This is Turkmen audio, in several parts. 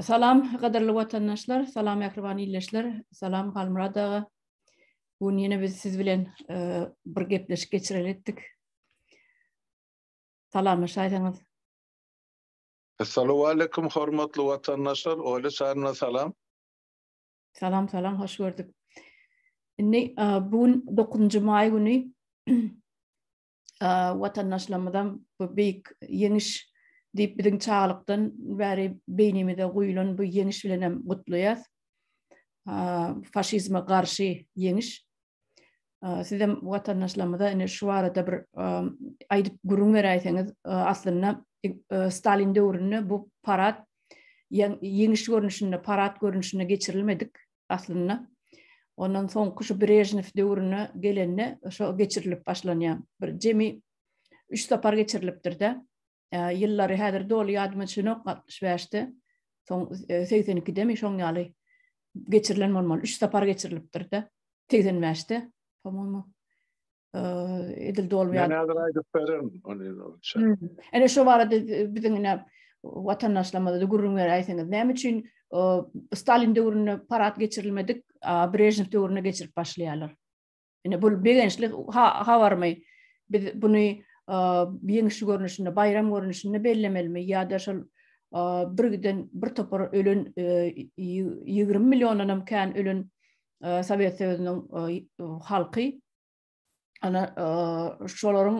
Salam, gadyrly watandaşlar, salam mähriban ildeşler, salam Halmurad aga. Bu gün ýene biz siz bilen e, bir gepleşik geçireli etdik. Salamlaşaýsaňyz. Assalamu alaykum hormatly watandaşlar, Oýly Sarna salam. Salam, salam, hoş gördük. Indi e, bu gün 9-njy maý güni watandaşlarymyzam bu beýik ýeňiş diýip biziň çagalykdan bäri beýnimize guýulan bu ýeňiş bilen hem gutlaýas. Faşizme garşy ýeňiş. Sizem watandaşlarymyza ine şu barada bir aýdyp gürrüň beräýseňiz, aslynda Stalin döwründe bu parad ýeňiş görnüşinde, parad görnüşinde geçirilmedik. aslynda. Ondan soňky şu Brežnew döwrüne gelende şo geçirilip başlanýar. Bir jemi üç sapar geçirilipdir-de. Ýyllary häzir doly ýadyma düşenok, 65-de, soň 82-demi şoň ýaly geçirilen bolmaly. Üç sapar geçirilipdir-de. 85-de, po-moýmy. edil dolup ýatyr. Men häzir aýdyp bererin ony. Ene şu barada biziň ine watandaşlarymyza gürrüň beräýseňiz, näme üçin Stalin döwründe parat geçirilmedik, Brežnew döwründe geçirip başlaýarlar? Ine bu begençli habarmy? Biz buny ýeňiş görnüşinde, baýram görnüşinde bellemelimi ýa-da şol birgiden bir topar ölen 20 milliondan hem kän ölen Sowet Söýüniň halky ana şolaryň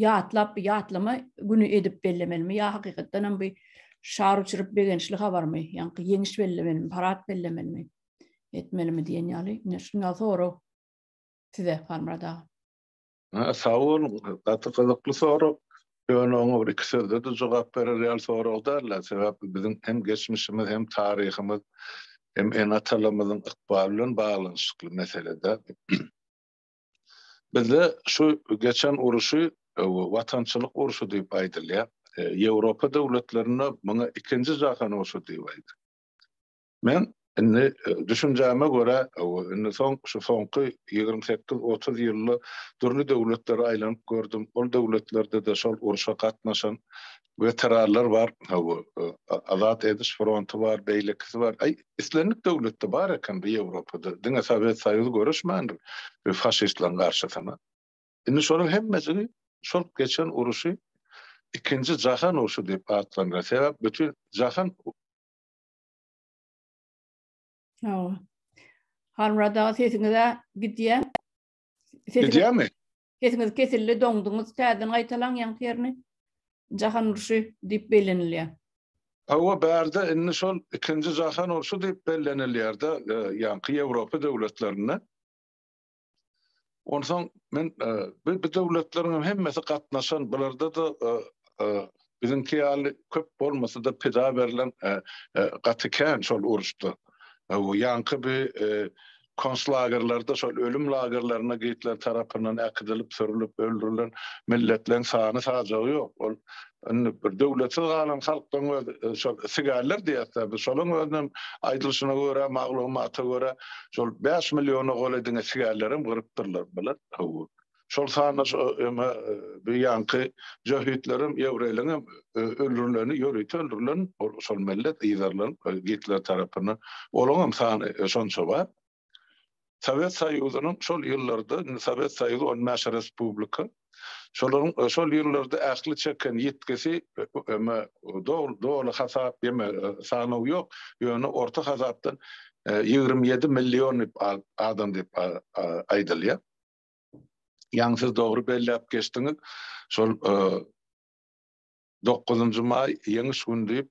ýatlap ýatlama güni edip bellemelimi ýa hakykatdan hem bu şar uçuryp begençli habarmy ýa-da ýeňiş bellemelimi parad bellemelimi etmelimi diýen ýaly ine şuny sorag size Halmyrat aga Ha, sag boluň. Gaty gyzykly sorag. Ýöne oňa bir iki sözde-de jogap berer ýaly sorag däl-ä. Sebäp biziň hem geçmişimiz, hem taryhymyz, hem ene-atalarymyzyň ykbaly bilen baglanyşykly mesele-dä. Bizde şu geçen uruşy watançylyk urşy diýip aýdylýar. Ýewropa döwletlerinde muňa ikinji jahan urşy diýip aýdylýar. Men indi düşünjäme görä, indi soň şu soňky ýigrimi sekiz, otuz ýylda dürli döwletlere aýlanyp gördüm. Ol döwletlerde-de şol urşa gatnaşan weteranlar bar. Hawa, Azat ediş fronty bar, beýlekisi bar. Aý, islendik döwletde bar eken bu Ýewropada. Diňe Sowet Soýuzy göreşmändir bu faşistleriň garşysyna. Indi şolaryň hemmesini şol geçen urşy Ikinji jahan urşy diýip atlandyrar. Sebäp bütin jahan Hawa. Halmyrat aga sesiňize gidýär. Gidýärmi? Sesiňiz kesildi, doňduňyz. Täzeden gaýtalaň ýaňky ýerini. Jahan urşy diýip bellenilýär. Hawa, bärde indi şol ikinji jahan urşy diýip bellenilýär-de, e, ýaňky Ýewropa döwletlerinde. Onsoň men e, bu döwletleriň hemmesi gatnaşan, bularda da e, e, biziňki ýaly köp bolmasa-da pida berlen gaty kän şol uruşda. Bu ýaňky bir konslagerlerde şol ölüm lagerlerine gitler tarapyndan äkidilip, sürülip, öldürilen milletleriň sany sajagy ýok. Ol Indi bir döwletsiz galan halkdan öz şol sigärler diýýäs-dä biz, şolaryň özünem aýdylyşyna görä, maglumata görä, şol bäş milliona golaý diňe sigärlerem gyrypdyrlar, bilet, hawa. Şol sanda şo eme bu ýanky jöhitlerem, ýewreýleriňem öldürileni, ýörite öldürilen ol şol millet, yzarlan, Gitler tarapyndan, olaňam sany şonça bar. Sowet Soýuzynyň şol ýyllarda, indi Sowet Soýuzy on bäş respublika, şolaryň şol ýyllarda ähli çeken ýitgisi, emma doly hasap, ýeme sanaw ýok, ýöne orta hasapdan ýigrimi ýedi million adam diýip aýdylýar. Ýaňy siz dogry belläp geçdiňiz, şol dokuzynjy maý, Ýeňiş güni diýip,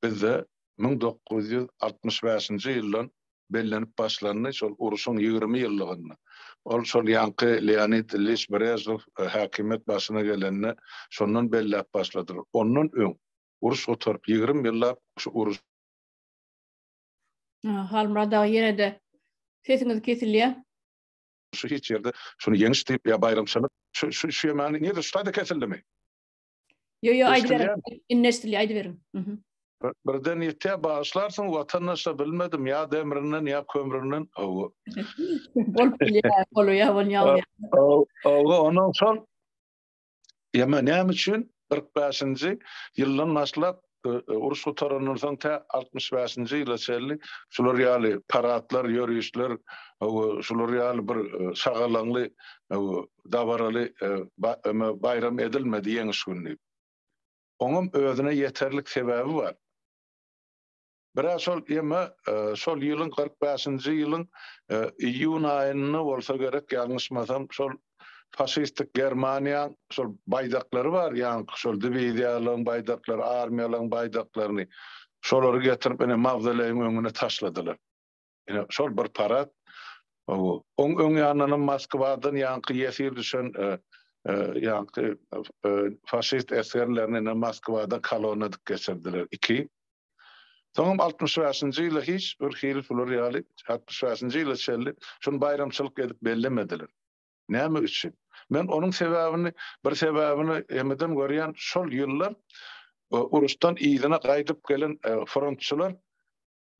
Bizde müň dokuz ýüz altmyş bäşinji ýyldan bellenip başlandy, şol uruşyň ýigrimi ýyllygynda. Ol şol ýaňky Leonid Iliç Brežnew häkimiýet başyna gelende şondan belläp başladylar. Ondan öň uruş gutaryp ýigrimi ýyllap şu uruş. Halmyrat aga ýene-de sesiňiz kesilýär. Şu hiç ýerde şuny ýeňiş diýip ýa baýramçylyk şu şu şu ýamany nirde şu taýda kesildimi? Yo yo aýdy berin. Inneşdili aýdy berin. Mhm. Birden ýetýä bagyşlarsyň watandaşa bilmedim ýa demrinden ýa kömründen. Owo. Bolup bilýär, bolýar, bolýar. Owo, onuň şol. Ýa men näme üçin 45-nji ýyldan başlap Uruş gutarandan soň tä altmyş bäşinji ýyla çenli şular ýaly paradlar, ýörişler, şular ýaly bir şagalaňly, dabaraly baýram edilmedi Ýeňiş güni. Oňam özüne ýeterlik sebäbi bar. Bira şol ýeme şol ýylyň kyrk bäşinji ýylyň iýun aýynda bolsa gerek, ýalňyşmasam, şol faşistik Germaniýaň şol baýdaklary bar, ýaňky şol diwiziýalaryň baýdaklary, armiýalaryň baýdaklaryny, şolary getirip ine mawzoleýiň öňüne taşladylar. Ine, şol bir parad. Oň öň ýanyndanam Moskwadan ýaňky ýesir düşen ýaňky faşist esgerlerini ine Moskwadan kolonna edip geçirdiler, iki. Soňam altmyş bäşinji ýyla hiç bir hili bular ýaly altmyş bäşinji ýyla çenli şuny baýramçylyk edip bellemediler. Näme üçin? Men onuň sebäbini, bir sebäbini emeden görýän, şol ýyllar uruşdan yzyna gaýdyp gelen frontçylar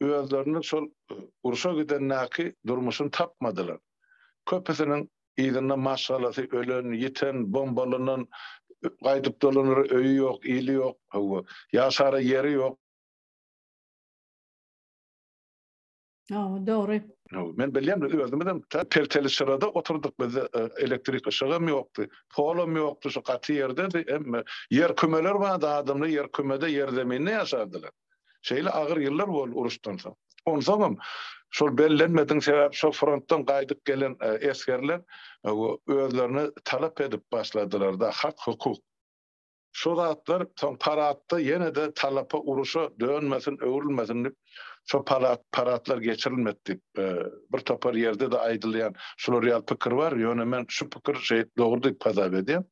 özlerini şol urşa gidendäki durmuşyny tapmadylar. Köpüsiniň yzynda maşgalasy ölen, ýiten, bombalanan, gaýdyp dolanara öýi ýok, ili ýok, hawa, ýaşara ýeri ýok. Hawa, dogry. Men bilýän, biz özümizem tä pelteli çyrada oturdyk, bizde elektrik yşygam ýokdy, polam ýokdy, şu gaty ýerdedi, emma ýer kümeler bardy, adamlar ýer kümede, ýer zeminde ýaşardylar. Şeýle agyr ýyllar boldy uruşdan soň. Onsoňam şol bellenmedigiň sebäbi şo frontdan gaýdyp gelen esgerler özlerini talap edip başladylarda hak hukuk. Şo zatlar soň paratda ýene-de talapa uruşa dönmesin öwrülmesin dip şo parat paratlar geçirilmedi dip bir topar ýerde-de aýdylýan şular ýaly pikir bar ýöne men şu pikir şeýt dogry dip hasap edýän.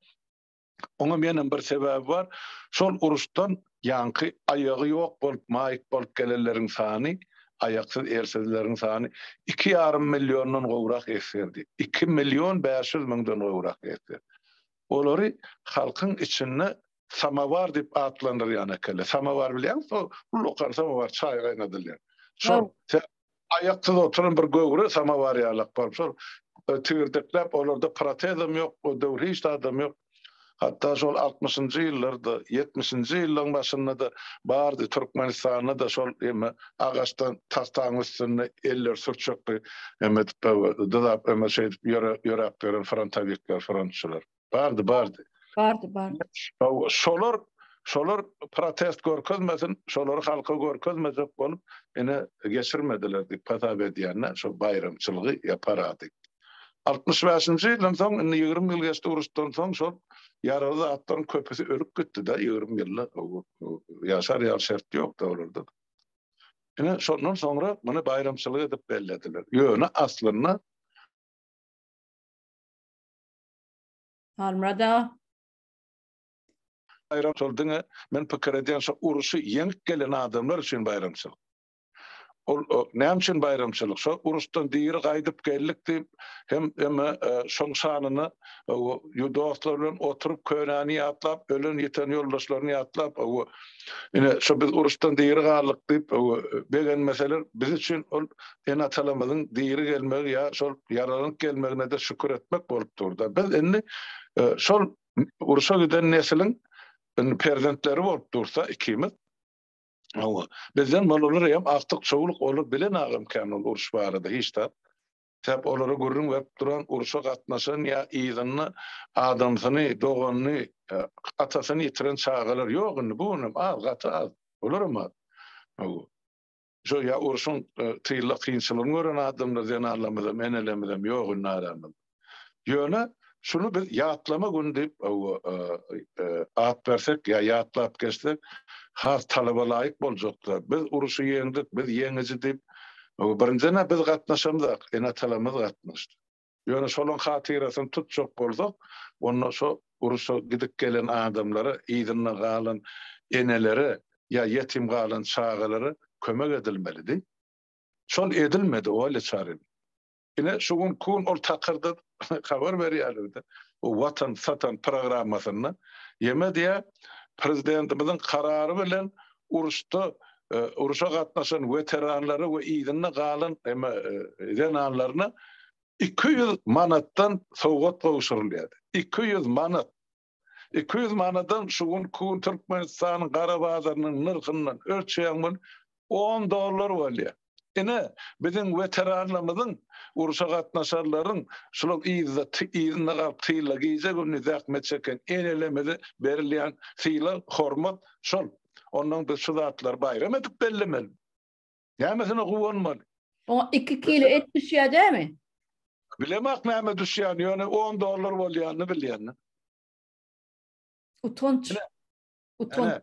Oňa menem bir sebäbi bar. Şol uruşdan ýaňky aýagy ýok bolup, maýyp bolup gelenleriň sany, aýaksyz, elsizleriň sany iki ýarym milliondan gowrak esgerdi. Iki million bäş ýüz müňden gowrak esger. Olary halkyň içinde samowar diýip atlandyrýan ekele. Samowar bilýäňizmi? Ullakan samowar, çaý gaýnadylýan. Şol Aýaksyz oturan bir göwre samowar ýalak baryp şol tigirdekläp, olarda protezem ýok, o döwür hiç zadam ýok. Hatda şol altmyşynjy ýyllarda, ýetmişinji ýyllaryň başynda-da bardy, Türkmenistanda-da şol eme agaçdan tagtaň üstünde elleri sürçekli eme edip, dyzap, eme şeýdip ýöräp ýören frontowikler, frontçylar. Bardy, bardy. Bardy, bardy. Şolar şolar protest görkezmesin, şolary halka görkezmejek bolup, ene geçirmediler diýip hasap edýänler, şo baýramçylygy ýaparady. 65-nji ýyldan soň, indi 20 ýyl geçdi uruşdan soň, şol ýaraly zatlaryň köpüsi ölüp gitdi-de, 20 ýylda ýaşar ýaly şert ýokdy olarda. Ene şondan soňra muny baýramçylyk edip bellediler. Ýöne aslynda Halmyrat aga. Baýramçyl diňe men pikir edýän şu uruşy ýeňip gelen adamlar üçin baýramçyl. Ol näme üçin baýramçylyk? Şo uruşdan diri gaýdyp geldik diýip hem hem e, şoň şanyna e, dostlar bilen oturyp könäni ýatlap, ölen ýeten ýoldaşlaryny ýatlap, e, ine şu biz uruşdan diri galdyk diýip begenmeseler biz üçin ol Ene-atalarymyzyň diri gelmegi ýa şol ýaralanyp gelmegine-de şükür etmek bolup dur-da. Biz indi şol urşa giden nesliň indi perzentleri bolup dursa ikimiz, hawa, bizden balalar hem agtyk-çowluk, olar bilen agam kän ol uruş barada hiç zat. Sebäp olara gürrüň berip duran, urşa gatnaşan ýa yzynda adamsyny, doganyny, atasyny ýitiren çagalar ýok indi, bu gün hem az, gaty az, olar hem az. Hawa. Şo ýa urşuň tylla kynçylygyny gören adamlar zenanlarymyzam, enelermizem ýok indi aramyzda. Ýöne şuny biz ýatlama güni diýip at bersek ýa ýatlap geçsek has talaba laýyk boljakdyr. Biz urşy ýeňdik, biz ýeňiji diýip, birindiden-ä biz gatnaşamzok, ene-atalarymyz gatnaşdy. Ýöne şolaryň hatyrasyny tutjak bolsak, onda şo urşa gidip gelen adamlara, yzynda galan enelere ýa ýetim galan çagalara kömek edilmelidi. Şol edilmedi Olýa Çaryna. Ine, şu gün kun ol takyrda habar berýärler-de, bu Watan satan programmasynda, ýeme diýýär, prezidentimiziň karary bilen uruşda uruşa gatnaşan weteranlara we yzynda galan zenanlaryna iki ýüz manatdan sowgat gowşurylýardy. Iki ýüz manat. Iki ýüz manadan şu gün Türkmenistanyň gara bazarynyň nyrhyndan ölçeýäň on dollar bolýar. Ine, biziň weteranlarymyzyň, urşa gatnaşarlaryň, şular yzda, yzynda galyp tylla gije-gündiz zähmet çeken enelerimize berilýän sylag, hormat şol. Ondan biz şu zatlary baýram edip bellemeli. Nämesine guwanmaly? Oňa iki kilo et düşýär dämi? Bilemok näme düşýäni, ýöne on dollar bolýanyny bilýän. Utanç. Utanç.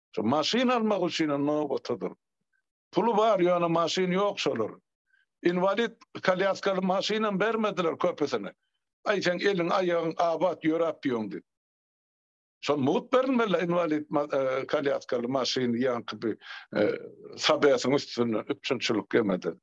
Şu maşyn almak üçinem nobata dur. Puly bar, ýöne maşyny ýok şolaryň. Inwalid, kolýaskaly maşynam bermediler köpüsine. Aý, seň eliň, aýagyň abat, ýöräp ýöň diýip. Şol mugt berilmeli-le inwalid kolýaskaly maşyny ýaňky bir Sabesiň üstünden üpjünçilik ýemeden.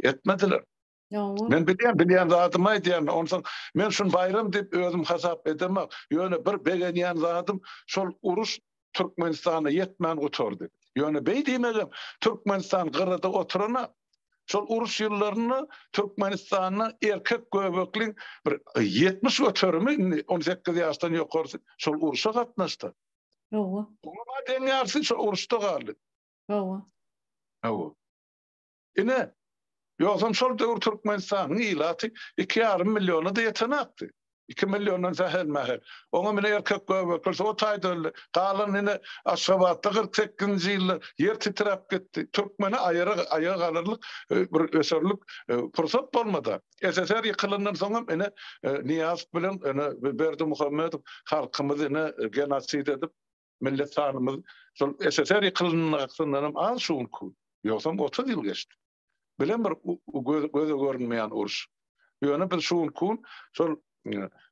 Etmediler. Hawa. Men bilýän, bilýän zadymy aýdýan. Onsoň men şuny baýram diýip özüm hasap edemok. Ýöne bir begenýän zadym, şol uruş Türkmenistana ýetmän gutardy. Ýöne beý diýmegem Türkmenistan gyrada oturana, şol uruş ýyllarynda Türkmenistanda erkek göbekliň bir ýetmiş göterimi, indi on sekiz ýaşdan ýokarsy şol uruşa gatnaşdy. Hawa. Oňa deň ýarsy şol uruşda galdy. Hawa. Hawa. Ine, ýogsam şol döwür Türkmenistanyň ilaty iki ýarym milliona-da ýetenokdy. Iki milliondan sähel-mähel. Oňam ine erkek göbekler o taýda öldi. Galan ine Aşgabatda kyrk sekizinji ýylda ýer titräp gitdi. Türkmene aýara aýa galarlyk bir öserlik pursat bolmady. SSR ýykylandan soňam ine Nyýazow bilen ine Berdimuhamedow halkymyzy ine genosid edip, Millet sanymyz şol SSR ýykylandanam az şu günki. Ýogsam otuz ýyl geçdi. Bilen bir göze görünmeýän uruş. Ýöne biz şu günki gün şol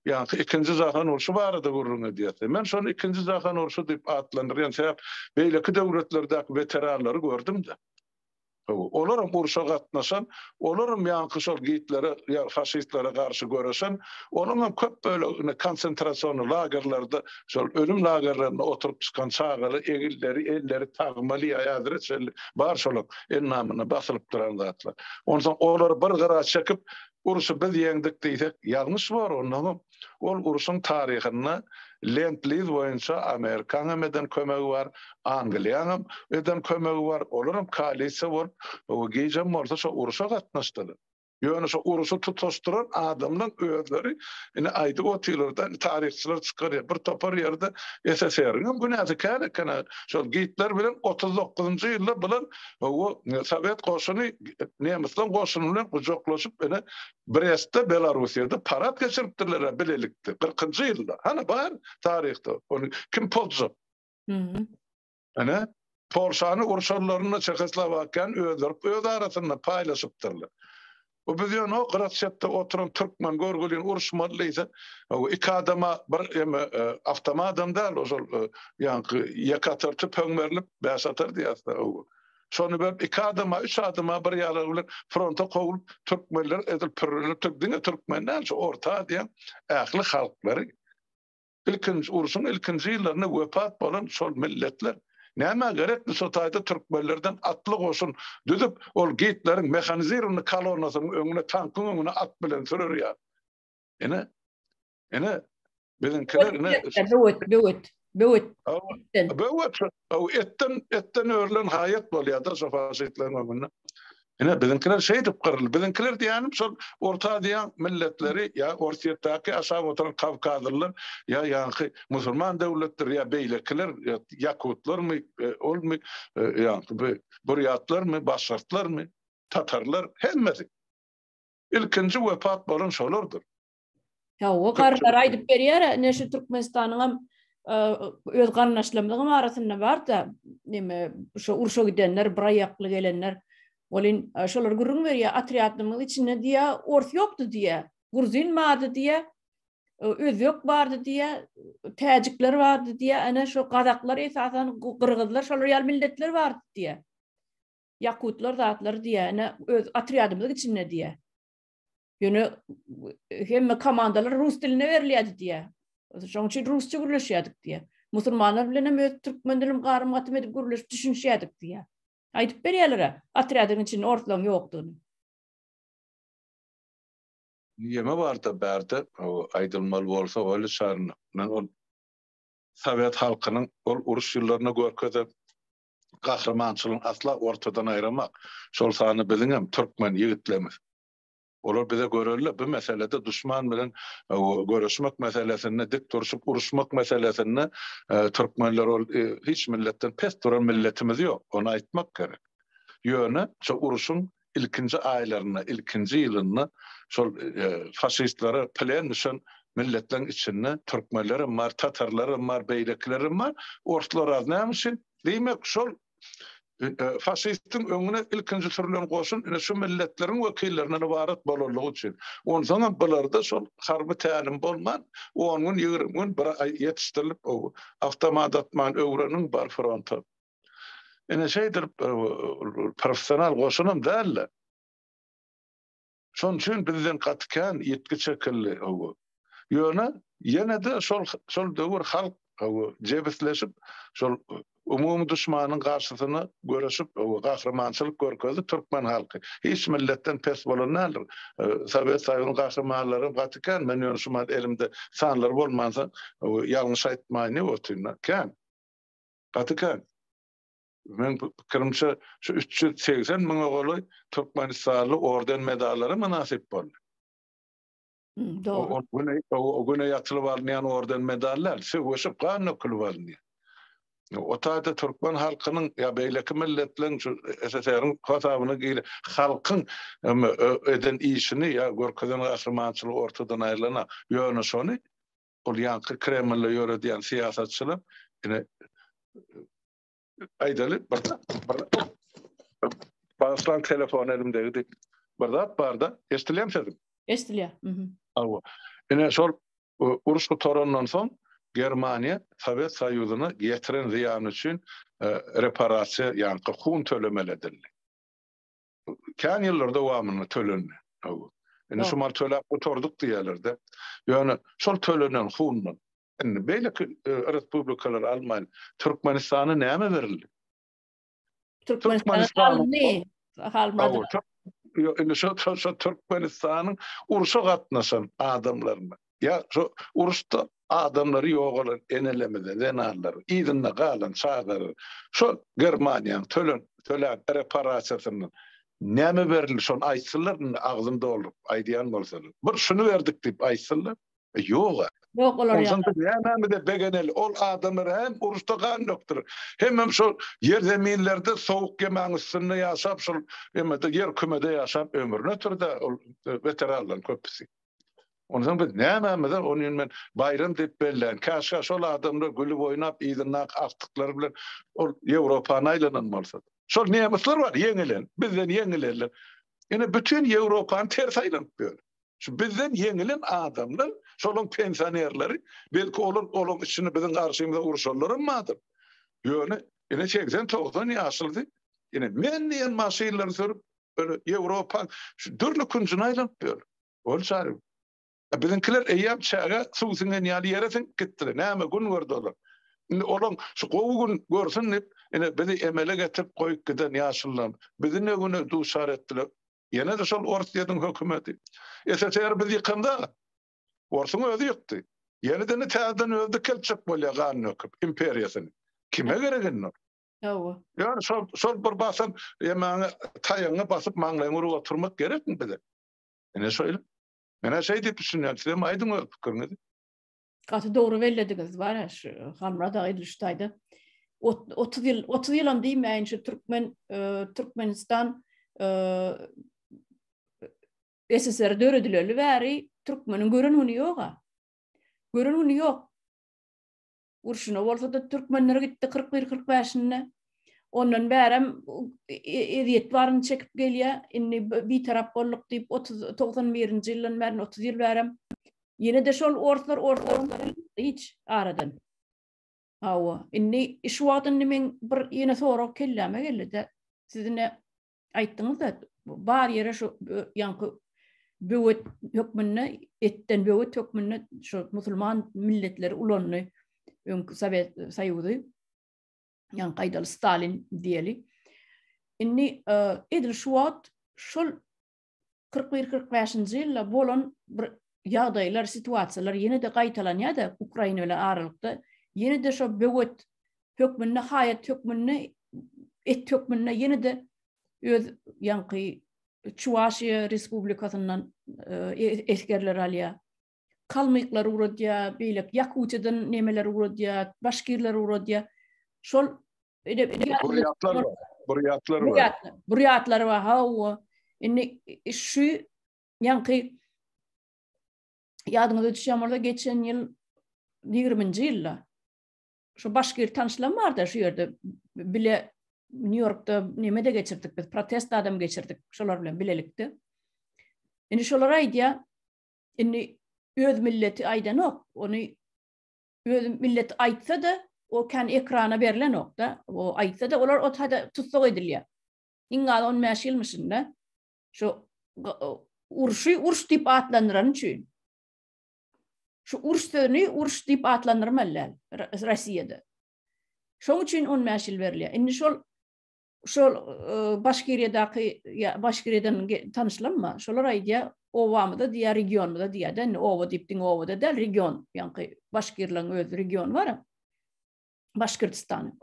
ýa-da ikinji jahan urşy barada gürrüň edýäs. Men şony ikinji jahan urşy diýip atlandyrýan sebäp beýleki döwletlerdäki weteranlary gördüm-de. Olaram urşa gatnaşan, olaram ýaňky şol Gitlere, faşistlere garşy göreşen, olaňam köp bölegi indi konsentrasion lagerlerde, şol ölüm lagerlerinde oturyp çykan çagaly egilleri, elleri tagmaly, häzire çenli bar şolaň endamyna basylyp duran zatlar. Onsoň olary bir gyra çekip, urşy biz ýeňdik diýsek, ýalňyş bor, onnoňam Ol urşuň taryhynda Lend-Liz boýunça Amerikanyňam eden kömegi bar, Angliýanyňam eden kömegi bar, olaram koalisiýa bolup, gijem bolsa şo urşa gatnaşdylar. Ýöne şo urşy tutaşdyran adamlaň özleri indi aýdyp otyrlar-da, indi taryhçylar çykarýar, bir topar ýerde SSR-iňem günäsi kän eken-ä, şol Gitler bilen otuz dokuzynjy ýylda bular, hawa, sowet goşuny nemisleň goşuny bilen gujaklaşyp, ine, Brestde, Belarussiýada parad geçiripdirler-ä bilelikde, kyrkynjy ýylda. Hany, bar taryhda, ony kim pozjak? Ene, Polşany urşanlarynda Çehoslowakiýany özler öz arasynda paýlaşypdyrlar. Bu biz ýöne o grassetde oturan türkmen görgüliň uruşmaly diýse, o iki adama bir eme awtomadam däl, ozal ýaňky ýeke atar tüpeň berlip, bäş atar diýýärsiň-ä. Şony berip iki adama üç adama bir ýarag bilen fronta kowlup türkmenler edil pürrünipdir diňe türkmen däl şu orta aziýaň ähli halklary ilkinji urşuň ilkinji ýyllarynda wepat bolan şol milletler nämä gerekdi şu taýda türkmenlerden atly goşun düzüp ol gitleriň mehanizirowny kalonasynyň öňüne tankyň öňüne at bilen sürer ýaly ine Ine biziňkiler ine böwet böwet böwet böwet o etden etden örlen haýat bolýardyr şo faşistleriň öňünde. Ine biziňkiler şeýdip gyryldy. Biziňkiler diýýänim şol Orta Aziýa milletleri ýa Orsýetdäki aşak oturan kawkazlylar ýa ýaňky musulman döwletleri ýa beýlekiler ýakutlarmy e, olmy e, ýaňky burýatlarmy başgartlarmy tatarlar hemmesi. Ilkinji wepat bolan şolardyr. Hawa, garrylar aýdyp berýär, ine şu Türkmenistanyň hem öz garyndaşlarymyzyň arasynda bar-da, neme, şo urşa gidenler, bir aýakly gelenler, welin şolar gürrüň berýär, otrýadymyň içinde diýýär, ors ýokdy diýýär, gruzin bardy diýýär, özbek bardy diýýär, täjikler bardy diýýär, ine şo gazaklar esasan, gyrgyzlar, şolar ýaly milletler bardy diýýär. Ýakutlar zatlar diýýär, ine öz otrýadymyzyň içinde diýýär. Ýöne hemme komandalar rus dilinde berilýärdi diýýär. Şonuň üçin rusça gürleşýärdik diýýär. Musulmanlar bilen hem öz türkmen dilim garym-gatym edip gürleşip düşünişýärdik diýýär. Aýdyp berýärler-ä, otrýadyň içinde orslaryň ýokdugyny. Ýeme barda bärde aýdylmaly bolsa weli şaryna. Men ol sowet halkynyň ol uruş ýyllaryna görkezen gahrymançylygyny asla ortadan aýramak. Şol sanda biziňem türkmen ýigitlerimiz Olar bize görelde bu meselede duşman bilen göreşmek meselesinde dik durşup uruşmak meselesinde türkmenler ol hiç milletden pes duran milletimiz ýok ony aýtmak gerek. Ýöne şo uruşyň ilkinji aýlarynda ilkinji ýylynda şol faşistlere plen düşen milletleriň içinde türkmenlerem bar tatarlarem bar beýlekilerem bar orslar az näme üçin diýmek şol faşistiň öňüne ilkinji sürülen goşun ine şu milletleriň wekillerinden ybarat bolanlygy üçin. Onsoňam bularda şol harby tälim bolman, on gün, ýigrimi gün, bir aý ýetişdirilip, awtomat atman öwreniň, bar fronta. Ine şeýdilip, professional goşunam däl-de. Şonuň üçin bizden gaty kän ýitgi çekildi, hawa. Ýöne, ýene-de şol şol döwür halk, hawa, jebisleşip, şol umumy duşmanyň garşysyna göreşip, hawa, gahrymançylyk görkezdi türkmen halky. Hiç milletden pes bolan däldir. Sowet Soýuzynyň gahrymanlaram gaty kän, men ýöne şu mahaly elimde sanlary bolmansoň, hawa, ýalňyş aýtmaýyn diýip otyryn-da. Kän. Gaty kän. Meniň pikirimçe, şu üç ýüz segsen müňe golaý türkmenistanly orden-medallara mynasyp boldy. Dogry. O güne, o güne ýatylyp alynýan orden-medallar söweşip gan dökülip alynýar. O taýda türkmen halkynyň ýa beýleki milletleriň şu SSR-iň hasabyna gir halkyň eden işini ýa görkezen gahrymançylygy ortadan aýrylanak. Ýöne şony ol ýaňky Kremlde ýöredýän syýasatçylar ine aýdaly bir Başlan telefon elimdegidi. Bir zat barda, eşdilýän sözüm. Eşdilýär. Mhm. Awa. Ine şol uruş gutarandan soň Germaniýa Sowet Soýuzyna ýetiren zyýany üçin e, reparasiýa, ýagny hun tölemeli edildi. Kän ýyllar dowamynda tölendi. Awa. Ine şu mal töläp gutardyk diýerlerde. Ýöne şol tölenen hundan Indi beýleki respublikalar almaýan Türkmenistana näme berildi? Türkmenistana alyndy. Almady. Indi şu şu Türkmenistanyň urşa gatnaşan adamlaryna ýa şu uruşda adamlary ýogalan enelerimize, zenanlara, yzynda galan çagalara şu Germaniýanyň tölen tölen reparasiýasyndan näme berildi şony aýtsynlar indi agzym dolduryp aýdýan bolsalar. Bir şuny berdik diýip aýtsynlar. Ýog-a. Ýok, olar ýok. Onsoň biz nämemize begeneli? Ol adamlar hem uruşda gan dökdüler. Hemem şol ýer zeminlerde sowuk ýemäň üstünde ýaşap, şol emede ýer kümede ýaşap ömrüni ötürdi-ä ol weteranlaryň köpüsi. Onsoň biz nämemize ony indi men baýram diýip bellän. Käşgä şol adamlar gülüp oýnap yzyndaky agtyklary bilen ol Ýewropany aýlanan bolsa. Şol nemesler bar ýeňilen, bizden ýeňilenler. Ine bütin Ýewropany ters aýlanyp ýör. Şu bizden ýeňilen adamlar, şolaň pensionerleri, belki olar olaň içinde biziň garşymyza urşanlaram bardyr. Ýöne ine segsen, togsan ýaşlydy. Ine men diýen maşynlary sürüp, ýöne Ýewropaň şu dürli künjüne aýlanyp ýör. Ol çary. A biziňkiler eýýäm çäge suw siňen ýaly ýere siňip gitdiler. Näme gün gördi olar. Indi olaň şu gowy gün görsün diýip, ine bizi emele getirip goýup giden ýaşlylaryň bizi ne güne duçar etdiler. Ýene-de şol Orsýetiň hökümeti. SSR-i biz ýykanda, orsuň özi ýykdy. Ýene-de täzeden özi dikeltjek bolýar gan döküp imperiýasyny. Kime gerek indi ol? Hawa. Ýöne şol, şol bir basym ýemäňe taýagyňy basyp maňlaýyňy urup oturmak gerekmi bize? Ine şeýle. Menä şeý diýip düşünýän, sizem aýdyň öz pikiriňizi. Gaty dogry bellediňiz bara şu Hamra da Idil Şutaýda 30 ýyl 30 ýylam diýmäýin şu türkmen e, Türkmenistan e, SSR döredileli bäri türkmeniň gören güni ýoga. Gören güni ýok. Urşuna bolsa da türkmenler gitdi 41-45-nde. Ondan bärem e, e, eziýet baryny çekip gelýär. Indi bir tarap bolduk diýip 30 91-nji ýyldan bäri 30 ýyl bärem Ýene-de şol orslar orslaryň hiç aradan. Hawa, indi şu wagt indi meň bir ýene sorag kelläme geldi-de, siz indi aýtdyňyz-da, bar ýere şu ýaňky böwet hökmünde, etden böwet hökmünde şu musulman milletleri ulandy, öňki Sowet Soýuzy, ýaňky gaýdaly Stalin diýeli. Indi edil şu wagt şol kyrk bir, kyrk bäşinji ýylda bolan bir ýagdaýlar, situasiýalar ýene-de gaýtalanýar-da Ukraina bilen aralykda. Ýene-de şo böwet hökmünde, haýat hökmünde, et hökmünde ýene-de öz ýaňky Çuwaşiýa Respublikasyndan e, e, esgerler alýar. kalmyklary ugradýar, beýleki ýakutiýadan nemeleri ugradýar, başkirleri ugradýar. Şol Burýatlar bar. Burýatlar bar. Burýatlar. Burýatlar bar. Hawa. Indi şu ýaňky ýadyňyza düşýän bolsa geçen ýyl 20-nji ýylda şu başgir tanşlam barda şu ýerde bile Nýu-Ýorkda neme-de geçirdik biz, protest adam geçirdik şolar bilen bilelikde. Indi şolar aýdýar, Indi öz milleti aýdanok, ony öz milleti aýtsa-da, o kän ekrana berlenok-da, o aýtsa-da, olar ot hada tussag edilýär. Iň azy on bäş ýylmyşyn-da, şu urşy urş diýip atlandyrany üçin. Şu urş sözüni urş diýip atlandyrmaly däl Rossiýada. Şoň üçin on bäş ýyl berilýär. Indi şol Şol Başkiriýadaky Başkiriýadan tanyşlamma, şolar aýdýa obamyza diýýä regionymyza diýýä-de indi oba diýip diňe obada däl region ýaňky başkirleriň öz regiony bar-a Başkirtistanyň.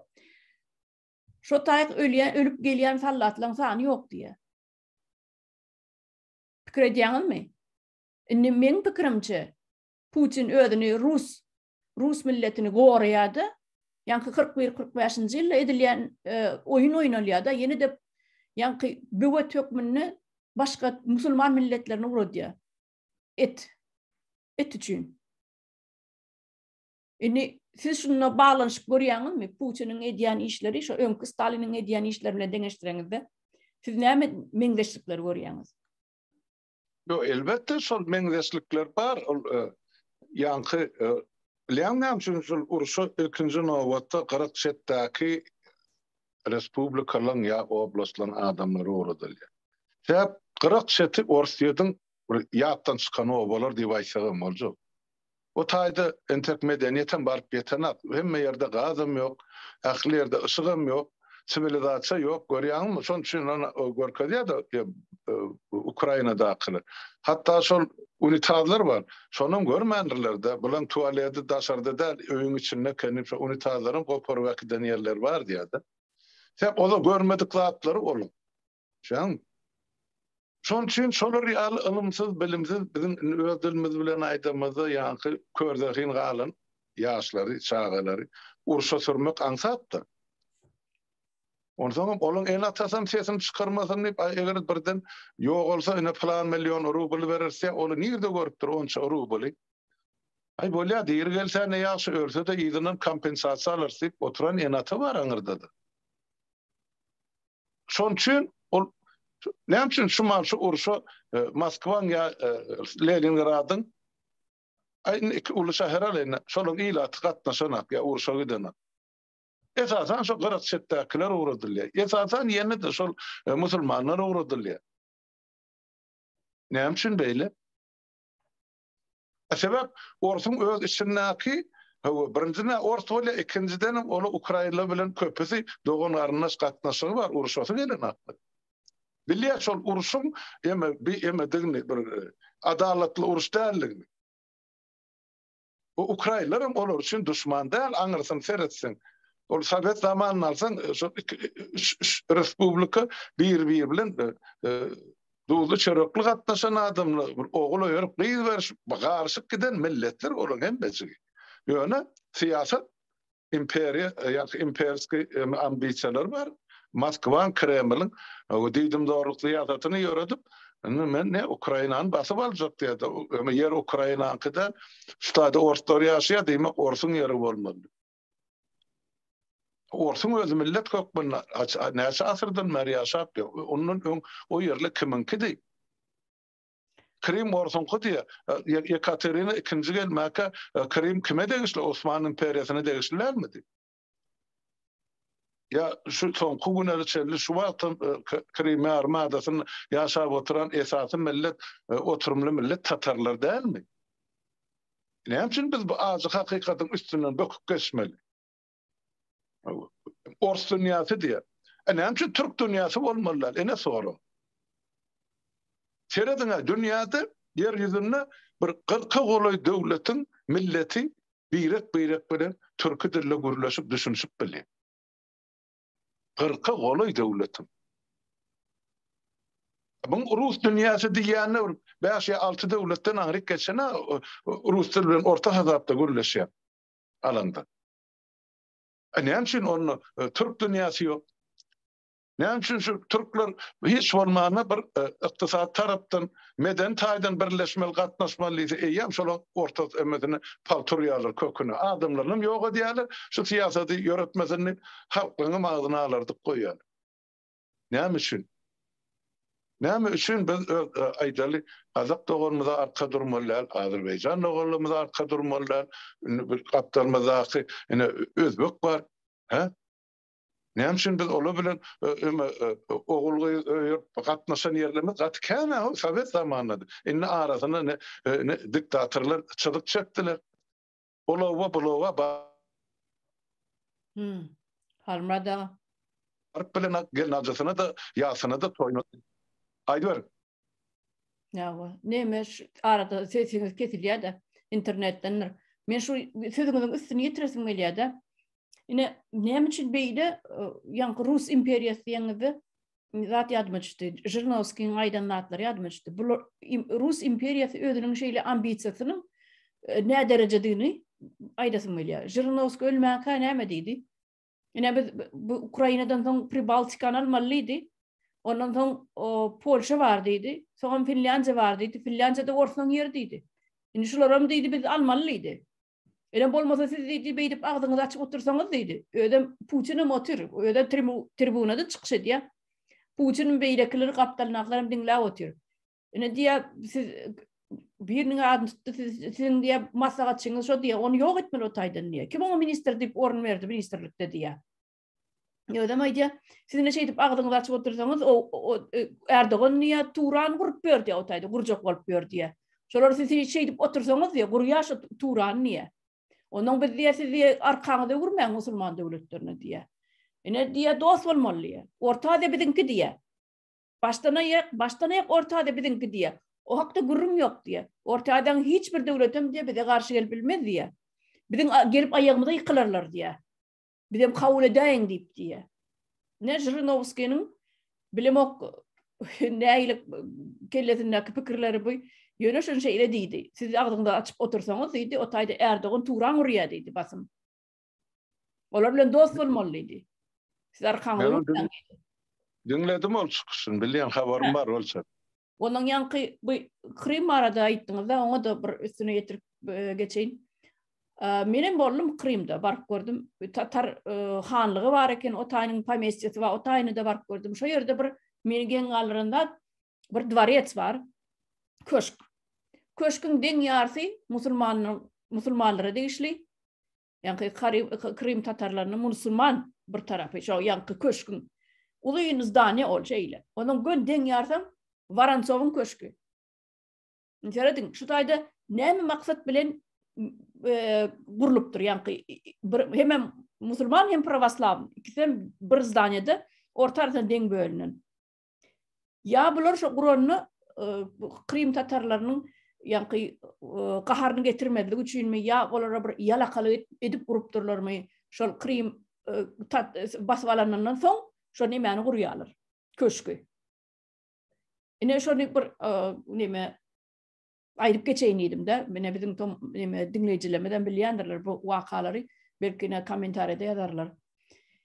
Şo taýyk ölýä ölüp gelýän sallatlaň sany ýok diýýä. Pikir edýäňizmi? Indi meň pikirimçe Putin özüni rus rus milletini goraýardy. Ýaňky 41-45-nji ýylda edilýän e, oýun oýnalýardy. Ýene de ýaňky böwet hökmünde başga musulman milletlerini uradýar. Et. Et üçin. Indi siz şunda baglanyşyp görýäňizmi? Putiniň edýän işleri şu öňki Staliniň edýän işleri bilen deňeşdireňizde, siz näme meňzeşlikleri görýäňiz? Ýok, elbetde şol meňzeşlikler bar. Ol ýaňky bilýän näme üçin şol urşa ilkinji nobatda gyryk çetdäki respublikalaryň ýa oblastlaryň adamlary ugradylýar. Sebäp gyryk çeti Orsýetiň ýatdan çykan obalar diýip aýtsagam boljak. Bu taýda entek medeniýetem baryp ýetenak, hemme ýerde gazam ýok, ähli ýerde yşygam ýok, siwilizasiýa ýok, görýäňizmi, şonuň üçin ony görkezýärdi Ukrainadakylar. Hatda şol unitazlar bar, şonam görmändirler-dä, bulaň tualeti daşarda däl, öýüň içinde ekeni, şo unitazlaram goparyp äkiden ýerleri bar diýýärdi. Sebäp ol-a görmedik zatlary olaň. Şoň şoň üçin şolar ýaly ylymsyz, bilimsiz biziň indi öz dilimiz bilen aýdamyzda ýaňky kör zehin galan ýaşlary, çagalary urşa sürmek aňsatdyr. Onsoňam olaň ene-atasam sesini çykarmasyn diýip, aý eger birden ýogalsa ine plan million rubl bereris diýýär, ony nirde görüpdir onça rubly? Aý bolýar diri gelse ne ýagşy, ölse-de yzyndan kompensasiýa alarys diýip oturan ene-ata bar aňyrda-da. Şoň üçin ol näme üçin şu mal şu urşa e, Moskwaň ýa e, Leningradyň aýdyň iki uly şäher alýan, şolaryň ilaty gatnaşanak ýa urşa gidenak. Esasan şu gyrak çetdäkiler ugradylýar. Esasan ýene-de şol e, musulmanlar ugradylýar. Näme üçin beýle? Sebäp orsuň öz içindäki Hawa, birinji nä ors bolýar, ikinjidenem onuň ukrainler bilen köpüsi dogan-garyndaş gatnaşygy bar, uruşasy gelen hakda. Bilýär şol uruşyň eme bi emedigini, bir adalatly uruş däldigini. Bu ukrainler hem olar üçin duşman däl, aňyrsyny seretseň. Ol sowet zamanyny alsaň, şol iki, üç respublika bir-biri bilen Duzly çörekli gatnaşan adamlar bir ogul öýerip gyz berşip garyşyp giden milletler olaň hemmejigi. Ýöne syýasat imperiýa ýa-da imperski ambisiýalar bar. Moskwaň Kremliň we diýdimzorluk syýasatyny ýöredip indi men ne Ukrainany basyp aljak diýýärdi. Ýer Ukrainaňky däl. Şu taýda orslar ýaşaýar diýmek orsuň ýeri bolmaly. Orsuň özi millet hökmünde näçe asyrdan bäri ýaşap ýör. Ondan öň o ýerli kimiňkidi? Krym orsuňky diýýär. Ýekaterina ikinji gelmäkä Krym kime degişli? Osman imperiýasyna degişli dälmidi? Ýa şu soňky günlere çenli şu wagtam Krym ýarym adasynda ýaşap oturan esasy millet, oturymly millet tatarlar dälmi? Näme üçin biz bu ajy hakykatyň üstünden böküp geçmeli? Ors dünýäsi diýýär. E näme üçin türk dünýäsi bolmaly däl? Ene sora. Serediň, dünýäde, ýer ýüzünde bir kyrka golaý döwletiň milleti birek-birek bilen türki dilde gürleşip, düşünişip bilýär. Kyrka golaý döwletiň. Muň rus dünýäsi diýýände bir bäş ýa alty döwletden aňryk geçen-ä rus dil bilen orta hasapda gürleşýär alanda. E näme üçin onda e, türk dünýäsi ýok? Näme üçin şu türkler hiç bolmanda bir e, ykdysady tarapdan Medeni taýdan birleşmeli, gatnaşmaly diýse, eýýäm şolaň ortasy emmesini pagt urýarlar köküne. Adamlarynam ýok edýärler. Şu syýasady ýöretmesindik, halkyňam agzyny alardyk goýýarlar. Näme üçin? Näme üçin biz öz, aýdaly, gazak doganymyza arka durmaly däl, azerbaýjan doganlarymyza arka durmaly däl, indi bir gapdalymyzdaky ine özbek bar, hä? Näme üçin biz olar bilen ogul gyz öýüp gatnaşan ýerlerimiz gaty kän a sowet zamanynda. Indi arasyna ne diktatorlar çyzyk çekdiler. Olawa bulawa ba. Hmm. Halmada. Arp bilen gel najasyna da ýasyna da toýna. Aýdyber. Ýa-wa, näme şu arada sesiňiz kesilýär-de, internetdendir. Men şu sözüňiziň üstüni ýetiresim gelýär-de. Ine, näme üçin beýle e, ýaňky rus imperiýasy diýeňizde zat ýadyma düşdi. Žirnowskiň aýdan zatlary ýadyma düşdi. Bu rus imperiýasy özüniň şeýle ambisiýasynyň e, näderejedigini aýdasym gelýär. Žirnowskiý ölmänkä näme diýdi? Ine biz bu Ukrainadan soň Pribaltikany almalydy. Ondan soň Polşa bar diýdi. Soňam Finlýandiýa bar diýdi. Finlýandiýada orsaň ýeri diýdi. Indi şularam diýdi biz almalydy. Ene bolmasa siz diýdi beýdip agzyňyzy açyp otursaňyz diýdi. Özem Putin hem otur. Özem tribunada çykyş edýär. Putin beýlekileri gapdalyndakylaram diňläp otyr. Ine diye siz birinin adını tuttu sizin diye maslahatçyňyz şu diye onu yok etmeli o taydan diye. Kim ona minister deyip orun verdi ministerlikte diye. Özem aýdýa, siz ne şeýdip agzyňyzy açyp otursaňyz, o, o e, Erdogan niýe Turan gurup berdi, o taýda gurjak bolup berdi. Şolar siz şeýdip otursaňyz diýe, gurýa şu Turan niýe? Ondan biz diýe siz diýe arkaňyzy öwürmäň musulman döwletlerine diýe. Ine diýe dost bolmaly diýe. Orta Aziýa biziňki diýe. Başdanaýak, başdanaýak ortada biziň diýýä. O hakda gürrüň ýok diýýä. Ortadaň hiç bir döwletem diýýä bize garşy gelip bilmez diýýä. Biziň gelip aýagymyza ýykylarlar diýýä. Bizem kabul edäýiň diýip diýýä. Ne Žyrinowskiniň bilemok nähili kellesindäki pikirleri bu. Ýöne şunça ile diýdi. Siz agzyňyzy açyp otursaňyz diýdi, o taýda Erdogan turan urýa diýdi basym. Olar bilen dost bolmaly diýdi. Siz arkaňyzy öwürmäň. Diňledim ol çykyşyny, bilýän habarym bar ol çyk. Ondan ýaňky bu Krym barada aýtdyňyz-da, oňa da bir üstüne ýetirip e, geçeýin. E, men hem boldum Krymda, baryp gördüm. Tatar e, hanlygy bar eken, Otaýnyň pomestiýasy bar, Otaýny da baryp gördüm. Şo ýerde bir meni geň galdyran zat, bir dwarets bar, köşk. Köşküň deň ýarsy musulmanlar, musulmanlara degişli. Ýaňky Karim, Krim tatarlarynyň musulman bir tarapy, şo ýaňky köşküň. Uzyn zdaniýa ol şeýle. Onuň gön deň ýarsy Waransowyň köşki. Serediň, şu taýda näme maksat bilen e, gurlupdyr ýaňky bir hemem musulman hem prawoslaw ikisem bir zdaniýada orta arasynda deň bölünen. Ýa bular şo guranda Krym tatarlarynyň ýaňky gaharyny getirmezlik üçinmi, ýa olara bir ýalakalyk edip gurupdyrlarmy? Şol Krym basyp alanyndan soň şo nemäni gurýarlar? Köşki. Ine şony bir neme aýdyp geçeýin diýdim-de, ine biziň tom neme diňleýjilerimizem bilýändirler bu wakalary, belki ine kommentariýada ýazarlar.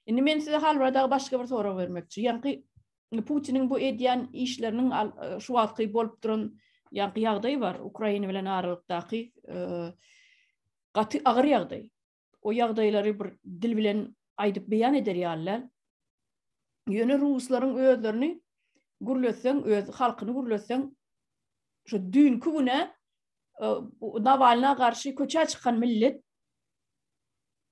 Indi men size hal barada başga bir sorag bermekçi. Ýaňky Putiniň bu edýän işleriniň şu wagtky bolup duran ýaňky ýagdaý bar, Ukraina bilen aralykdaky gaty agyr ýagdaý. o ýagdaýlary bir dil bilen aýdyp beýan eder ýaly däl. Ýöne ruslaryň özlerini gürletseň, öz halkyny gürletseň, şu düýnki güne e, Nawalna garşy köçä çykan millet,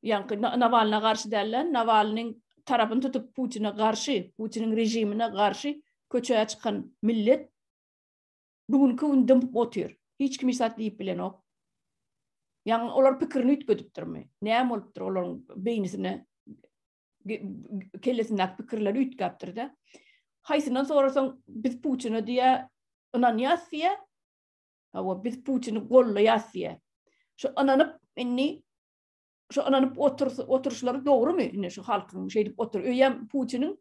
ýaňky Nawalna garşy däl-de, Nawalnyň tarapyny tutup Putine garşy, Putiniň režimine garşy köçä çykan millet Bu günki gün dymyp otyr. Hiç kim hiç zat diýip bilenok. Ýaňy olar pikirini üýtgedipdirmi? Näme bolupdyr olaryň beýnisine? Kellesindäki pikirleri üýtgäpdir-de. Haýsyndan sorasaň, biz Putina diýä, ynanýas diýä. Hawa, biz Putini gollaýas diýä. Şu ynanyp, indi şu ynanyp oturyşlary dogrumy? Indi şu halkyň şeýdip otur. Öýem Putiniň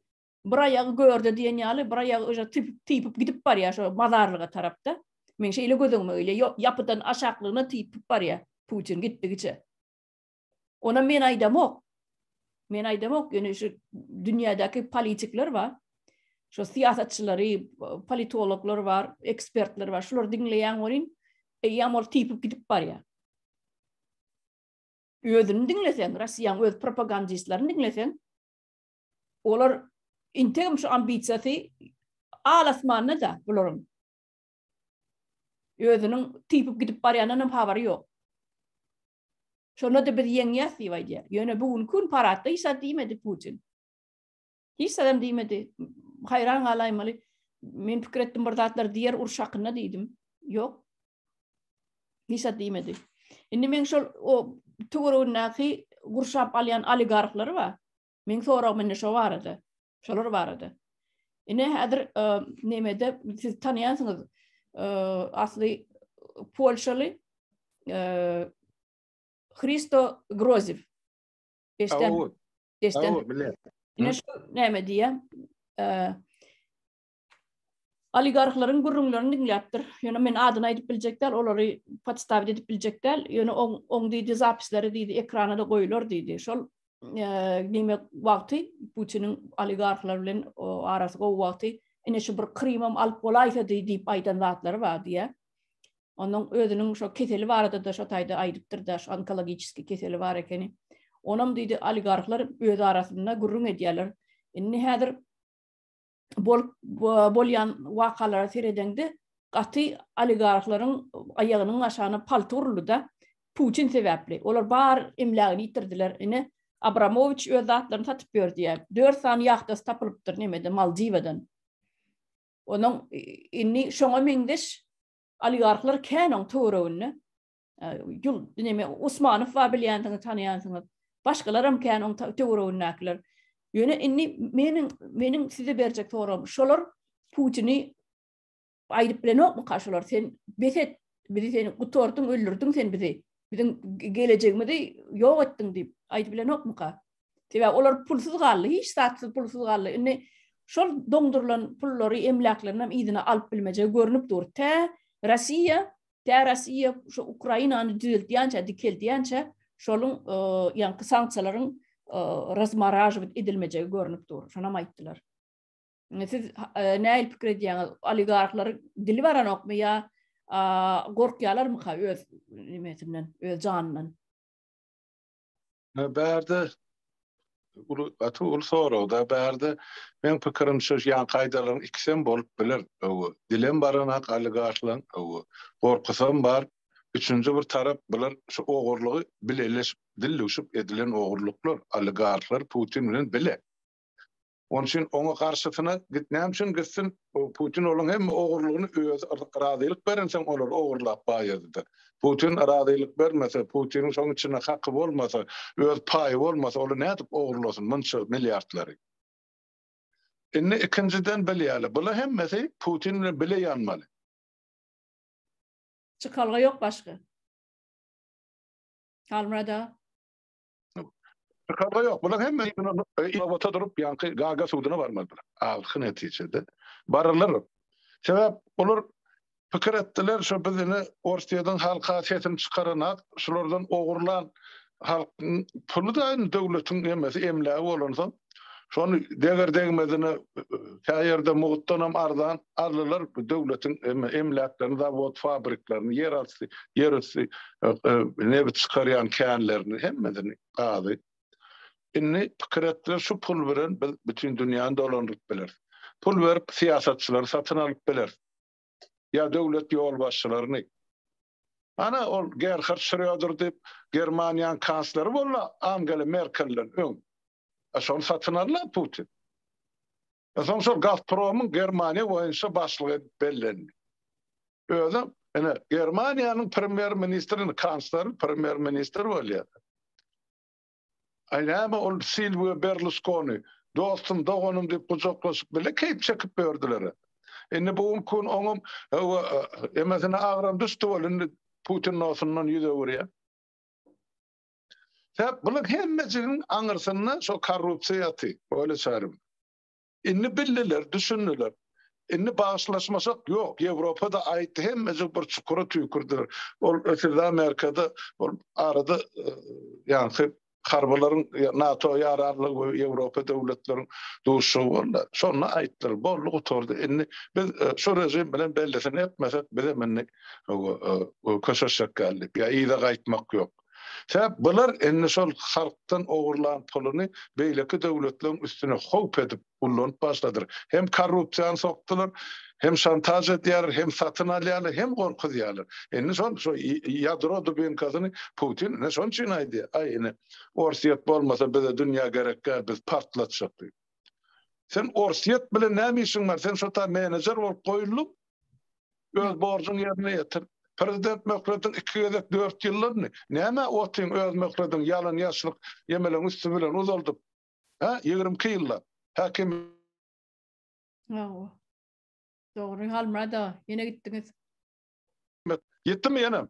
bir aýagy görde diýen ýaly bir aýagy öje typyp typyp gidip barýar şo mazarlyga tarapda. Men şeýle göz öňüme öýle ýapydan aşaklygyna typyp barýar Putin gitdigiçe. Ona men aýdamok. Men aýdamok, ýöne şu dünýädäki politikler bar. Şu syýasatçylary, politologlar bar, ekspertler bar. Şular diňleýän bolýan, eýýäm ol typyp gidip barýar. Özüni diňleseň, Russiýanyň öz propagandistlerini diňleseň, Olar integim şu ambisiýasy al-asmanda-da bularyň. Özüniň typyp gidip barýandan hem habary ýok. Şonda-da biz ýeňýäs diýip aýdýar. Ýöne bu günki gün paradda hiç zat diýmedi Putin. Hiç zat hem diýmedi. Haýran galaýmaly. Men pikir etdim bir zatlar diýer uruş hakynda diýdim. Ýok. Hiç zat diýmedi. Indi men şol o töweregindäki gurşap alýan oligarhlary bar. Meň soragym indi şo barada, şolar barada. Ine häzir e, nemede siz tanýansyňyz e, asly polşaly e, Hristo Groziv. Eşden. Eşden. Ine şu näme diýýär? oligarhlaryň gürrüňlerini diňläpdir. Ýöne men adyny aýdyp biljek däl, olary podstawit edip biljek däl. Ýöne oň, oň diýdi, zapisleri diýdi, ekrana-da goýular diýdi. Şol diýmek wagty Putiniň oligarhlar bilen arasy gowy wagty, ine şu bir Krymam alyp bolaýsa diý diýip aýdan zatlary bar diýýär. Onuň özüniň şo keseli barada-da şo taýda aýdypdyr-da, şu onkologiçiski keseli bar ekeni. Onam diýdi, oligarhlar öz arasynda gürrüň edýärler. Indi häzir bolup bolýan wakalara seredeňde gaty oligarhlaryň aýagynyň aşagyna palty uruldy-da, Putin sebäpli. Olar bar emlägini ýitirdiler. Ine, Abramowiç öz zatlaryny satyp ýördi ýa. Dört sany ýahtasy tapylypdyr nämeden, Maldiwadan. Onuň indi şoňa meňzeş oligarhlar kän oň töwereginde. Ýul, neme, Usmanow bar bilýänsiňiz, tanaýansyňyz. Başgalaram kän oň töweregindäkiler. Ýöne indi meniň meniň size berjek soragym, şolar Putini aýdyp bilenokmyka şolar? Sen bes et, bizi sen gutardyň, öldürdiň sen bizi. Biziň gelejegimizi ýok etdiň diýip aýdyp bilenokmyka? Sebäbi olar pulsuz galdy, hiç zatsyz pulsuz galdy. Indi şol doňdurylan pullary, emläklerini hem yzyna alyp bilmejegi görnüp dur. Tä Russiýa Tä Rossiýa şu Ukrainany düzeltýänçä, dikeldýänçä şoluň ýaňky sanksiýalaryň razmaražowit edilmejegi görnüp dur. Şonam aýtdylar. Siz nähili pikir edýäňiz? Oligarhlaryň dili baranokmy ýa gorkýalarmyka öz nimesinden, öz janyndan? Bärde uly gaty uly soragda bärde men pikirim şu ýan kaýdalaryň ikisem bolup biler öwi dilem baranak aligaşlaň öwi gorkusam bar üçünji bir tarap bular şu ogurlygy bileleşip dilluşup edilen ogurluklar aligarhlar putin bilen bile Oň üçin oňa garşysyna git näme üçin gitsin Putin olaň hemme ogurlygyny özi razylyk berensoň olar ogurlap baýadyda Putin razylyk bermese Putiniň şoň içinde haky bolmasa öz paýy bolmasa ola nädip ogurlasyn munça milliardlary. Indi ikinjiden bilýäli bula hemmesi Putin bilen bile ýanmaly. Çykalga ýok başga. Halmyrat aga. Çykalga ýok. Bular hemme inowata durup, ýaňky Gaga suduna barmalydyr. Ahyr netijede barylar. Sebäp olar pikir etdiler, şu biz indi Orsýetiň halka sesini çykaranak, şulardan ogurlan halkyň puly da döwletiň hemmesi emlägi bolansoň, Şony deger-degmezine kä ýerde mugtdanam arzan aldylar bu döwletiň emläklerini, zawod-fabriklerini, ýerasty, ýerüsti nebit çykarýan känlerini, hemmesini, gazy. Indi pikir etdiler, şu pul bilen biz bütin dünýäni dolandyryp bileris. Pul berip syýasatçylary satyn alyp bileris. Ýa döwlet ýolbaşçylaryny. Ana, ol Gerhard Şröder diýip, Germaniýanyň kansleri boldy Angela Merkelden öň. A şony satyn aldy-a Putin. A soň şol Gazpromyň Germaniýa boýunça başlygy edip bellendi. Özem, ine, Germaniýanyň premýer-ministri, indi kansler premýer-ministr bolýar. Aýlama ol Silwio Berluskoni, dostum, doganym diýip gujaklaşyp bile keýp çekip ýördüler. Indi bu gün kun oňam hawa emesine agram düşdi ol indi Putin nosyndan ýüz öwürýär. Sebäp bular hemmejigiň aňyrsynda şo korrupsiýa ýaty, öýle çarim. Indi bildiler, düşündiler. Indi bagyşlaşmasak ýok. Ýewropa-da aýtdy, hemmeje bir çukura tüýkürdiler. Ol ötüde Amerika-da ol arada ýaňky harbylaryň NATO ýararlygy we Ýewropa döwletleriň duşuşygy boldy. Şonda aýtdylar, boldy gutardy. Indi biz şu režim bilen bellisini etmesek, bizem indi köşeşjek ýaly diýip, ýa yza gaýtmak ýok. Sebäp bular indi şol halkdan ogurlan puluny beýleki döwletleriň üstüne howp edip ullanyp başladyr. Hem korrupsiýany sokdular, hem şantaž edýärler, hem satyn alýarlar, hem gorkuzýarlar. Indi şol şo ýadro dubinkasyny Putin ine şonuň üçin aýdýar, aý ine Orsýet bolmasa bize dünýä gerek däl, biz partlatjak diýip. Sen Orsýet bilen näme işiň bar? Sen şo ta menejer bolup goýuldyň. öz borjuň ýerine ýetir. Prezident möhletiň iki gezek dört ýyllyny näme otyň öz möhletiň ýalan ýaşlyk ýemeleň üsti bilen uzaldyp hä ýigrimi iki ýyllap häkim Hawa. Dogry Halmyrat aga ýene gitdiňiz. Gitdim ýenem.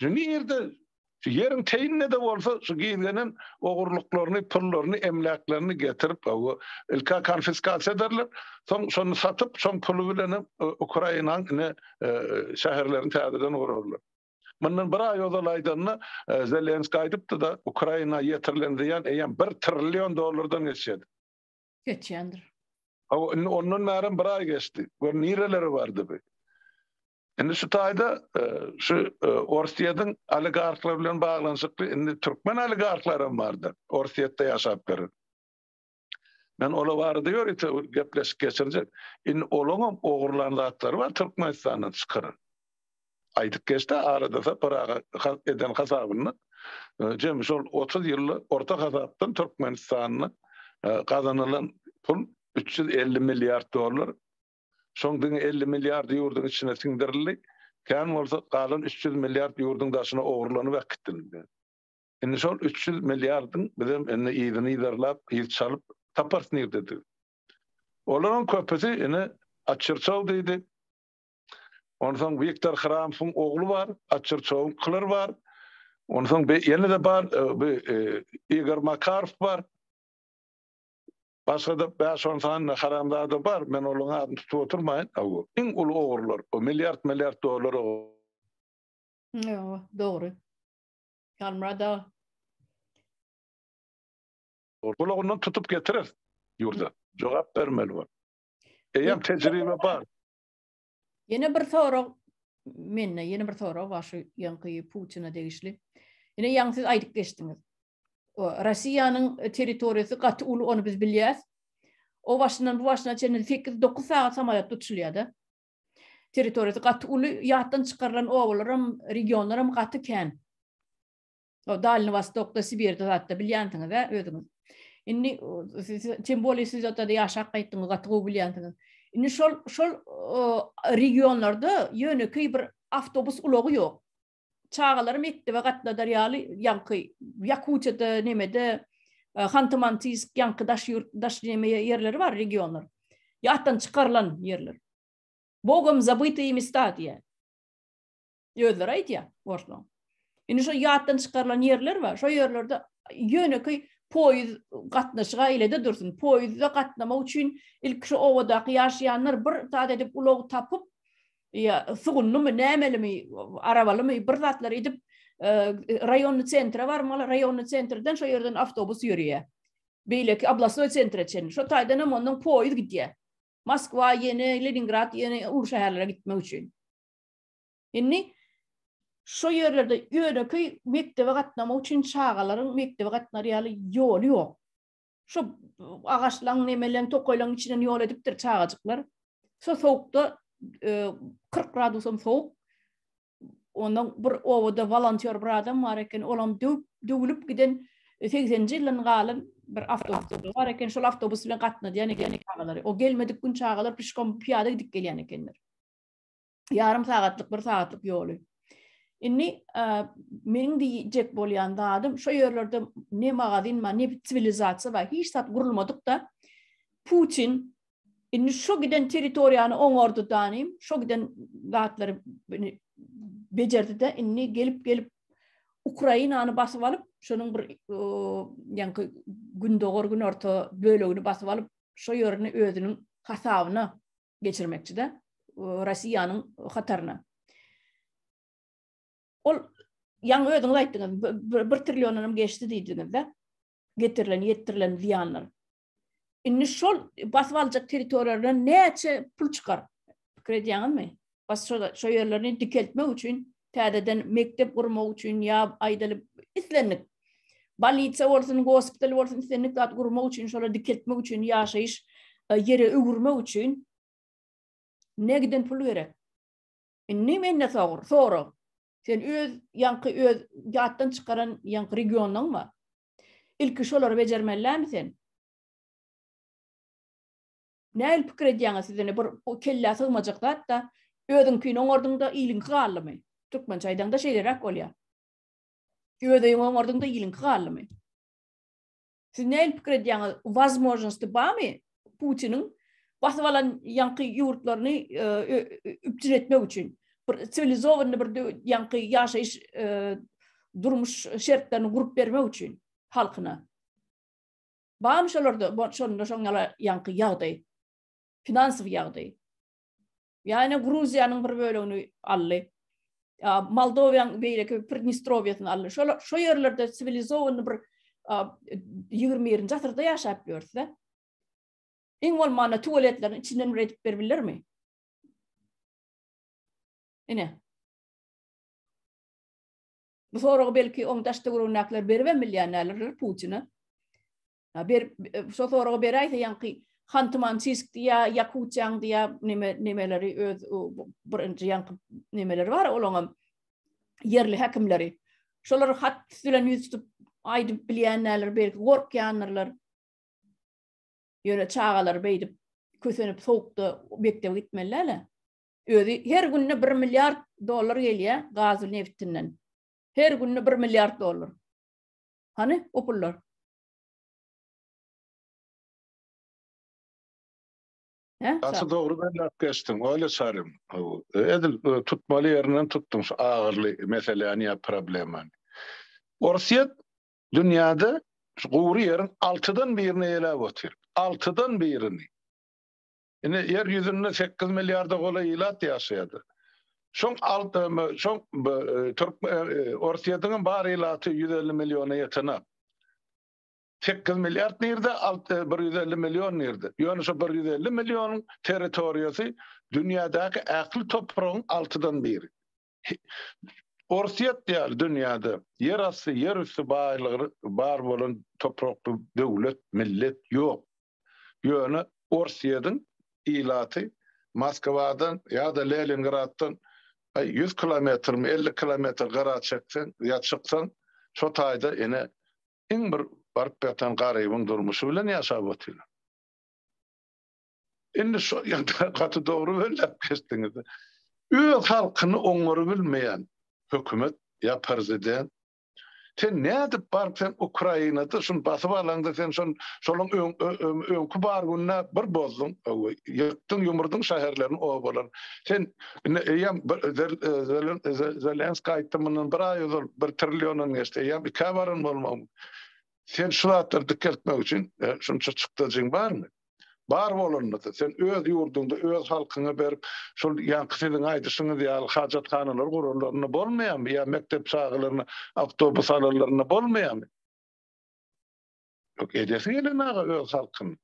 Şu nirde şu ýeriň teýinde-de bolsa şu gizlenen ogurlyklaryny, pullaryny, emläklerini getirip, hawa, ilk-ä konfiskasiýa ederler, soň şony satyp, şoň puly bilenem Ukrainaň ine şäherlerini täzeden gurarlar. Mundan bir aý ozal aýdanda, Zelenskiý aýdypdy-da, Ukraina ýetirilen zyýan eýýäm bir trillion dollardan geçýär. Geçýändir. Hawa, indi ondan bärem bir aý geçdi. Gör, nirelere bardy bu. Indi şu taýda şu Orsýetiň oligarhlary bilen baglanyşykly indi türkmen oligarhlary hem bardyr. Orsýetde ýaşap ýören. Men olar barada ýörite gepleşik geçirjek. Indi olaň hem ogurlan zatlary bar Türkmenistandan çykaran. Aýdyp geçdi arada Sapar aga eden hasabynda jemi şol 30 ýylda orta hasapdan Türkmenistanda gazanylan pul 350 milliard dollar Şoň diňe elli milliardy ýurduň içine siňdirildi, kän bolsa galan üç ýüz milliard ýurduň daşyna ogurlanyp äkitdildi. Indi şol üç ýüz milliardyň bizem indi yzyny yzarlap, yz çalyp taparys nirdedigi. Olaryň köpüsi indi Açyrçaw diýdi. Onsoň Wiktor Hramowyň ogly bar, Açyrçawyň Klyr bar. Onsoň ýene-de bar, bu Igor Makarow bar. Başgada bäş-on sany haramzada bar, men olaryň adyny tutup oturmaýyn. Hawa, iň uly ogrular, o milliard-milliard dollar ogry. Hawa, dogry. Halmyrat aga. Gulagyndan tutup getirer ýurda. Jogap bermeli bol. Eýýäm tejribe bar. Ýene bir sorag mende, ýene bir sorag bar şu ýaňky Putina degişli. Ýene ýaňky siz aýdyp geçdiňiz. Russiýanyň territoriýasy gaty uly, ony biz bilýäs. O başyndan bu başyna çenli sekiz, dokuz sagat samalýot uçulýar-da. Territoriýasy gaty uly, ýatdan çykarylan obalaram, regionlaram gaty kän. O Dalni Wostokda, Sibirde zatda bilýänsiňiz-ä özüňiz. Indi siz tem bolýa siz o taýda ýaşap gaýtdyňyz, gaty gowy bilýänsiňiz. Indi şol şol regionlarda ýönekeý bir awtobus ulagy ýok. çagalary mekdebe gatnadar ýaly ýaňky Ýakutiýada nemede e, Hanty-Mantysk ýaňky daş ýurt daş neme ýerleri bar regionlar. Ýatdan çykarylan ýerler. Bogom zabytyý mesta diýýär. Özleri aýdýar orslaň. Indi şu ýatdan çykarylan ýerler bar. Şo ýerlerde ýönekeý poýuz gatnaşyga ilede dursun. Poýuzda gatnamak üçin ilk şu obadaky ýaşaýanlar bir zat edip ulag tapyp ýa sugunlymy, nämelimi, arabalymy bir zatlar edip, raýonny sentre barmaly, raýonny sentrden şo ýerden awtobus ýörýär. Beýleki oblastoý sentre çenli. Şo taýdan hem ondan poýuz gidýär. Moskwa, ýene Leningrad, ýene uly şäherlere gitmek üçin. Indi şo ýerlerde ýönekeý mekdebe gatnamak üçin çagalaryň mekdebe gatnar ýaly ýoly ýok. Şu agaçlaň nemeleň tokaýlaň içinden ýol edipdir çagajyklar. Şu sowukda 40 gradusam sowuk. Ondan bir obada volontýor bir adam bar eken, olam döwüp, döwülip giden 80-nji ýyldan galan bir awtobus bar eken, şol awtobus bilen gatnadýan eken çagalary. O gelmedik gün çagalar pişkom, pyýada gidip gelýän ekenler. Ýarym sagatlyk, bir sagatlyk ýoly. Indi meniň diýjek bolýan zadym, şu ýerlerde ne magazin bar, ne siwilizasiýa bar, hiç zat gurulmadyk da. Putin indi şu giden territoriýany oňardy danym, şu giden zatlary bejerdi de, indi gelip gelip Ukrainany basyp alyp, şonuň bir ýaňky gündogar günorta bölegini basyp alyp, şu ýerini özüniň hasabyna geçirmekçi-de Russiýanyň hataryna. Ol ýaňy özüňiz aýtdyňyz, bir trilliondan hem geçdi diýdiňiz-de, getirilen, ýetdirilen zyýanlar. Indi şol basyp aljak territoriýalardan näçe pul çykar? Pikir edýäňizmi? Bas şo ýerlerini dikeltmek üçin täzeden mekdep gurmak üçin ýa aýdalyp islendik bolnisiýa bolsun, gospital bolsun islendik zat gurmak üçin, şolar dikeltmek üçin, ýaşaýyş ýere öwürmek üçin ne giden pul gerek. Indi mende sor, sorag. Sen öz ýaňky öz ýatdan çykaran ýaňky regionyň bar. Ilki şolary bejermelimi sen? Nähili pikir edýäňiz siz indi bir bu kellä sygmajak zatda özüňkini oňardyňda iliňki galdymy? Türkmençe aýdaňda şeýleräk bolýar. Öz öýüňi oňardyňda iliňki galdymy? Siz nähili pikir edýäňiz? Wazmojnosti barmy Putiniň basyp alan ýaňky ýurtlaryny üpjün etmek üçin? Bir siwilizowany bir ýaňky ýaşaýyş durmuş şertlerini gurup bermek üçin halkyna? Barmy şolarda şonda şoň ýala ýaňky ýagdaý? Finansowy ýagdaý. Ýa-ni Gruziýanyň bir bölegini aldy. Ýa Moldowiýanyň beýleki Pridnestrowiýasyny aldy. Şol şo ýerlerde siwilizowany bir 21-nji asyrda ýaşap ýörse, iň bolmanda tuwaletleriň içinden bir edip berbilermi? Ine. Bu soragy belki oň daştöweregindäkiler beribem bilýänärler Putine. Ber şo soragy beräýse ýaňky Hanty-Mansisk diýä, Ýakutiýaň diýä neme nemeleri öz birinji ýaňky nemeleri bar olaňam ýerli häkimleri. Şolar hat bilen ýüz tutup aýdyp bilýänler, belki gorkýandyrlar. Ýöne çagalar beýdip kösenip sowukda mekdebe gitmeliler. Özi her günde bir milliard dollar gelýä gazy nebtinden. Her günde bir milliard dollar. Hany o pullar? Gaty dogry belläp geçdiň, Olýa Çarym. Edil tutmaly ýerinden tutduň şu agyrly meseläni ýa problemany. Orsýet dünýäde şu gury ýeriň altydan birini eýeläp otyr. Altydan birini. Indi Ýer ýüzünde sekiz milliarda golaý ilat ýaşaýardy. Şoň alt şoň türk Orsýetiňem bar ilaty ýüz elli milliona ýetenok. Sekiz milliard nirde, alt bir ýüz elli million nirde? Ýöne şu bir ýüz elli millionyň territoriýasy dünýädäki ähli topragyň altydan biri. Orsýet ýaly dünýäde ýer asty, ýer üsti baýlygy bar bolan toprakly döwlet, millet ýok. Ýöne Orsýediň ilaty Moskwadan ýa-da Leningraddan ýüz kilometrmi, elli kilometr gyra çekseň ýa çyksaň, şo taýda ine iň bir baryp ýatan garybyň durmuşy bilen ýaşap otyrlar. Indi şo ýagdaý gaty dogry belläp geçdiňiz. Öz halkyny oňary bilmeýän hökümet ýa prezident sen nädip baryp sen Ukrainada şuny basyp alaňda sen şon şolyň öňki bar günde bir bozduň ýykdyň ýumurdyň şäherlerini obalar sen indi eýem Zelenskiý aýtdy mundan bir aý ozal bir trilliondan geçdi eýem ikä baran bolmagyň sen şu zatlary dikeltmek üçin şunça çykdajyň barmy Bar bolanyny-da, sen öz ýurduňda öz halkyňa berip, şol ýaňky siziň aýdyşyňyz ýaly hajathanalary guranlaryna bolmaýarmy? Ýa mekdep çagalaryna awtobus alanlaryna bolmaýarmy? Ýok, edesi gelen aga öz halkyny.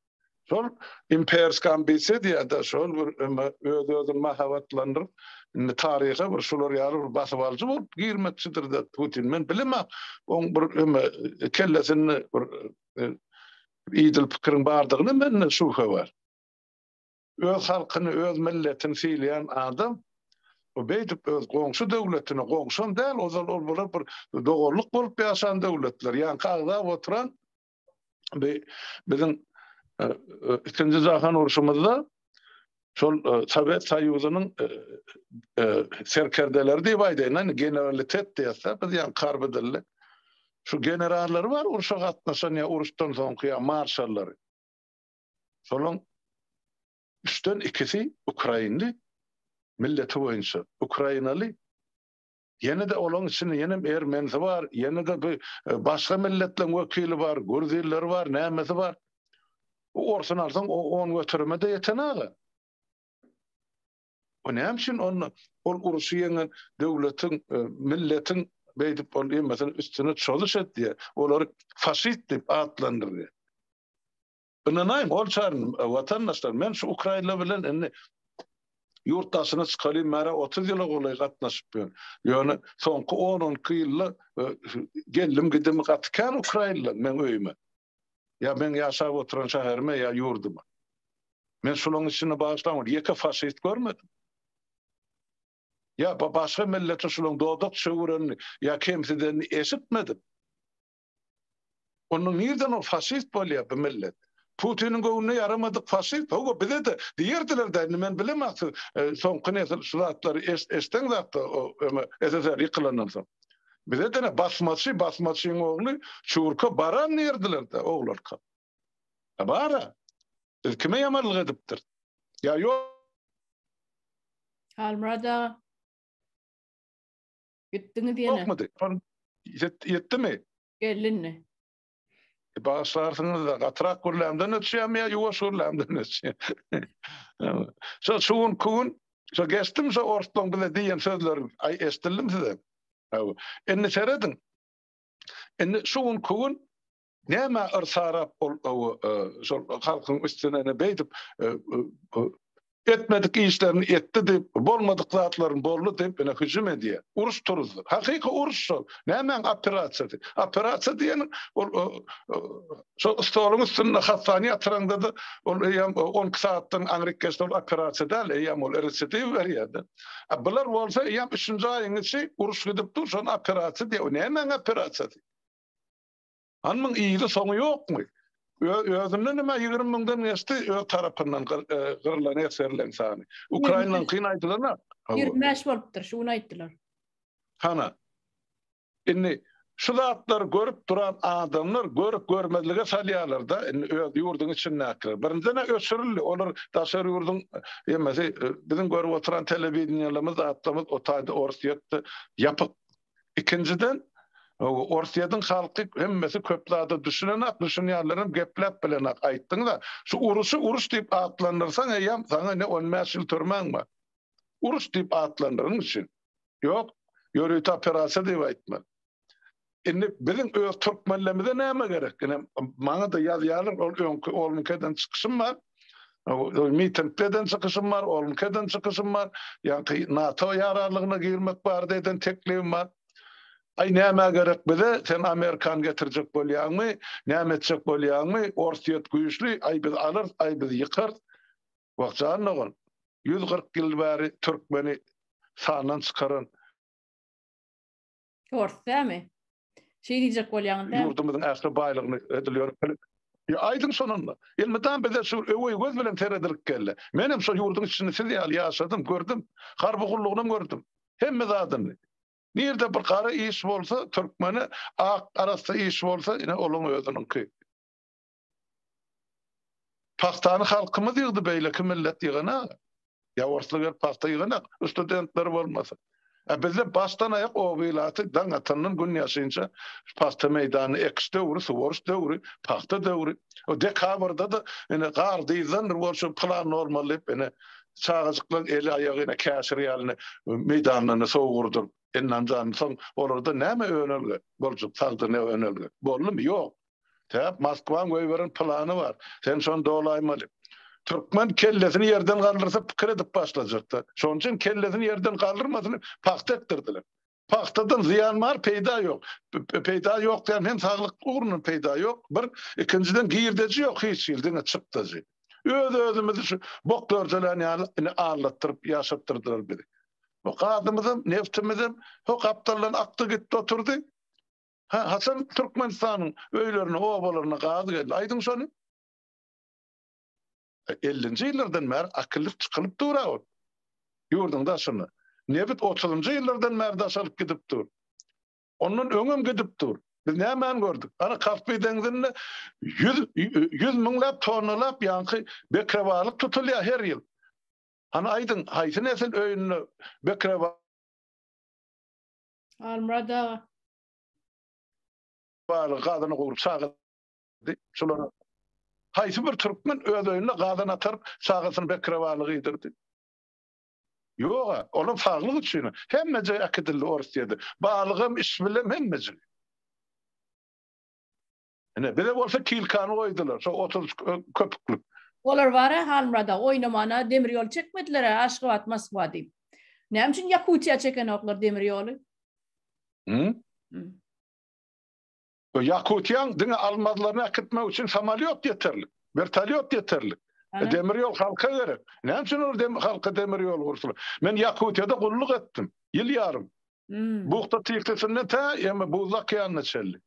Şol imperski ambisiýa diýýär-de, şol bir eme öz-özüni mahabatlandyryp, indi taryha bir şular ýaly bir basybalyjy bolup girmekçidir-de Putin. Men bilemok, oň bir eme kellesinde bir idil pikiriň bardygyna mende şübhe bar. Öz halkyny, öz milletini sylaýan adam beýdip öz goňşy döwletine, goňşam däl, ozal ol bular bir doganlyk bolup ýaşan döwletler, ýaňky agzap oturan biziň Ikinji jahan urşumyzda şol Sowet Soýuzynyň serkerdeleri diýip aýdaýyn, indi generalitet diýesizda biz ýaly harby dilli. Şu generallary bar urşa gatnaşan ýa uruşdan soňky ýa marşallary. Şolaryň üçden ikisi ukrainli milleti boýunça, ukrainaly Ýene-de olaň içinde ýenem ermenisi bar, ýene-de bi başga milletleň wekili bar, gürz illeri bar, nämesi bar. Bu orsuny alsaň o on göterime-de ýeten aga. O näme üçin onda ol uruşy ýeňen döwletiň, milletiň beýdip ol ýemesini üstüne çozuş etýär, olary faşist diýip atlandyrýar. Ynanaýyň, ol çaryny, watandaşlar, men şu ukrainler bilen indi ýurt daşyna çykaly märe otuz ýyla golaý gatnaşyp ýörün. Ýöne soňky on-on iki ýylda geldim-gidimi gaty kän ukrainler meň öýüme. Ýa meň ýaşap oturan şäherime, ýa ýurduma. Men şularyň içinde bagyşlaň, ýeke faşist görmedim. Ýa-da başga millete şularyň dodak çöwürenini ýa kemsidenini eşitmedim. Onda nirden ol faşist bolýar bu millet? Putiniň göwnüne ýaramadyk faşist, hawa bize-de diýerdiler-dä, indi men bilemok siz soňky nesil şu zatlary eşdeňzakda öňe SSR ýykylandan soň. Bize-de ine basmaçy, basmaçyň ogly çurka baran diýerdiler-dä oglarka. A bar-a. Biz kime ýamanlyk edipdiris? Ýa ýo. Halmyrat aga. Gitdiňiz ýene. Ýokmydy? Şol ýet, ýetdimi? Gelindi. E, Bagyşlarsyňyz-da, gatyrak gürlämden öçýämi ýa ýuwaş gürlämden öçýämi? Şo şu gün, ku gün, şo geçdimi şo orslaň bize diýen sözleri aý eşdildim size. Hawa. Indi serediň. Indi şu gün, ku gün Näme yrsarap ol şol halkyň üstüne ne beýdip etmedik işlerini etdi diýip, bolmadyk zatlaryny boldy diýip ine hüjüm edýär. Uruş turuzdy. Hakyky uruş şol. Nämäň operasiýasy? Operasiýa diýeniň ol şo stoluň üstünde hassany ýatyraňda-da ol eýýäm on iki sagatdan aňryk geçse ol operasiýa däl, eýýäm ol residiw berýär-de. A bular bolsa eýýäm üçünji aýyň içi uruş gidip dur, şony operasiýa diýýär. Nämäň operasiýasy? Hany muň yzy soňy ýokmy? Özünden näme ýigrimi müňden geçdi öz tarapyndan gyrlan esgerleň sany. Ukrainanyň kyn aýdylana. Ýigrimi bäş bolupdyr şu gün aýtdylar. Hana. Indi şu zatlar görüp duran adamlar görüp görmezlige salýarlarda indi öz ýurduň içindäkiler. Birinjine öçürildi olar daşary ýurduň ýemesi biziň görüp oturan telewideniýelerimiz zatlarymyz o taýda orus ýetdi ýapyk Ikinjiden, Orsýetiň halky hemmesi köp zada düşünenak, düşünýänlerem gepläp bilenak. Aýtdyňyz-a, şu uruşy uruş diýip atlandyrsaň eýýäm saňa ne on bäş ýyl türmäň bar. Uruş diýip atlandyryň üçin. Ýok, ýörite operasiýa diýip aýtmaly. Indi biziň öz türkmenlerimize näme gerek? Ine, maňa-da ýazýarlar, ol öňki Olmukeden çykyşym bar. Mitingdeden çykyşym bar, onuňkeden çykyşym bar, ýaňky NATO ýararlygyna girmek barada eden teklibim bar. Aý nämä gerek bize, sen Amerikany getirjek bolýaňmy, näme etjek bolýaňmy, Orsýet güýçli, aý biz alyrys, aý biz ýykarys. Wah jan dogan, ýüz kyrk ýyl bäri türkmeni sandan çykaran, Tors dämi? Şeý diýjek bolýaňyz dämi? Ýurdumyzyň ähli baýlygyny edil ýörüp bilip. Ýa aýdyň şonanda. Elmydam bize şu öweý göz bilen seredilip geldi. Menem şo ýurduň içini siz ýaly ýaşadym, gördüm. Harby gullugynam gördüm. Hemme zadyny. Nirde bir gara iş bolsa, türkmeni, ak arassa iş bolsa, ine olaň özüniňki. Pagtany halkymyz ýygdy beýleki millet ýyganak. Ýa orslar gelip pagta ýyganak studentleri bolmasa. A bizde başdan aýak oba ilaty daň atandan gün ýaşynça pagta meýdanyny ekiş döwri, suwaryş döwri, pagta döwri. O dekabrda-da ine gar dyzdandyr bor şu plan normal diýip ine çagajyklaň eli aýagy ine käşir ýaly ine meýdanlaryna sowurdyp, enanjany soň olarda näme önelge boljak sagdyn önelge boldumy ýok. Sebäp Moskwaň goýberen plany bar. Sen şony dolaýmaly. Türkmen kellesini ýerden galdyrsa pikir edip başlajakda. Şonuň üçin kellesini ýerden galdyrmasyn diýip pagta ekdirdiler. Pagtadan zyýan bar, peýda ýok. Peýda ýok diýen hem saglyk ugrundan peýda ýok bir, ikinjiden girdeji ýok hiç hili diňe çykdajy. Öz-özümizi şu bok dörjelän ýaly ine aldatdyryp ýaşatdyrdylar bizi. Bu gazymyzam, neftimizem, ho gapdaldan akdy gitdi oturdy. Hä, haçan Türkmenistanyň öýlerine, obalaryna gaz geldi? Aýdyň şony. Ellinji ýyllardan bäri akyllyk çykylyp dur-a ol. Ýurduň daşyna. Nebit otuzynjy ýyllardan bäri daş alyp gidip dur. Ondan öňem gidip dur. Biz nämäni gördük? Ana, Kaspy deňzinde ýüz, ýüz müňläp tonnalap ýaňky bekrebalyk tutulýar her ýyl. Hany aýdyň, haýsy nesil öýünde bekrebalyk Almurad aga. Bar gazyny gowup çagy. Şulara haýsy bir türkmen öz öýünde gazan atar çagasyny bekrewaly gyýdyrdy. Ýoga, olam saglyk üçin. Hemmeje äkidildi Orsýede. Balygam, iş bilen hemmeje. Ine, bize bolsa kilkany goýdular, şo otuz köpüklik. Olar bar-a, Halmyrada, oýnamana demir ýol çekmediler-ä, Aşgabat, Moskwa diýip. Näme üçin Ýakutiýa çekenoklar demir ýoly? Hü? Ýakutiýaň diňe almazlaryny äkitmek üçin samolýot ýeterlik, wertolýot ýeterlik. Demir ýol halka gerek. Näme üçin olar halka demir ýol gursalar? Men Ýakutiýada gulluk etdim, ýyl ýarym. Buhta Tiksisinden tä Buzly okeanyna çenli.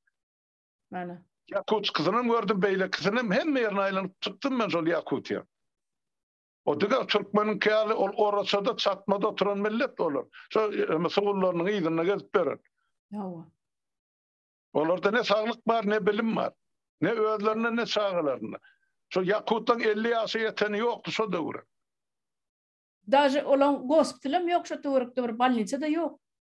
Mana. Ýakutskysynam gördüm, beýlekisinem hemme ýerini aýlanyp çykdym men şol Ýakutiýa. O diňe türkmeniňki ýaly ol oraçada çatmada oturan millet olar. Şo ýa sugullarynyň yzynda gezip ýören. Hawa. Olarda ne saglyk bar, ne bilim bar. Ne özlerinde, ne çagalarynda. Şo Ýakutlaryň elli ýaşa ýeteni ýokdy şo döwür. Daže olaň gospitalam ýok şo töwerekde bir bolniçada ýok.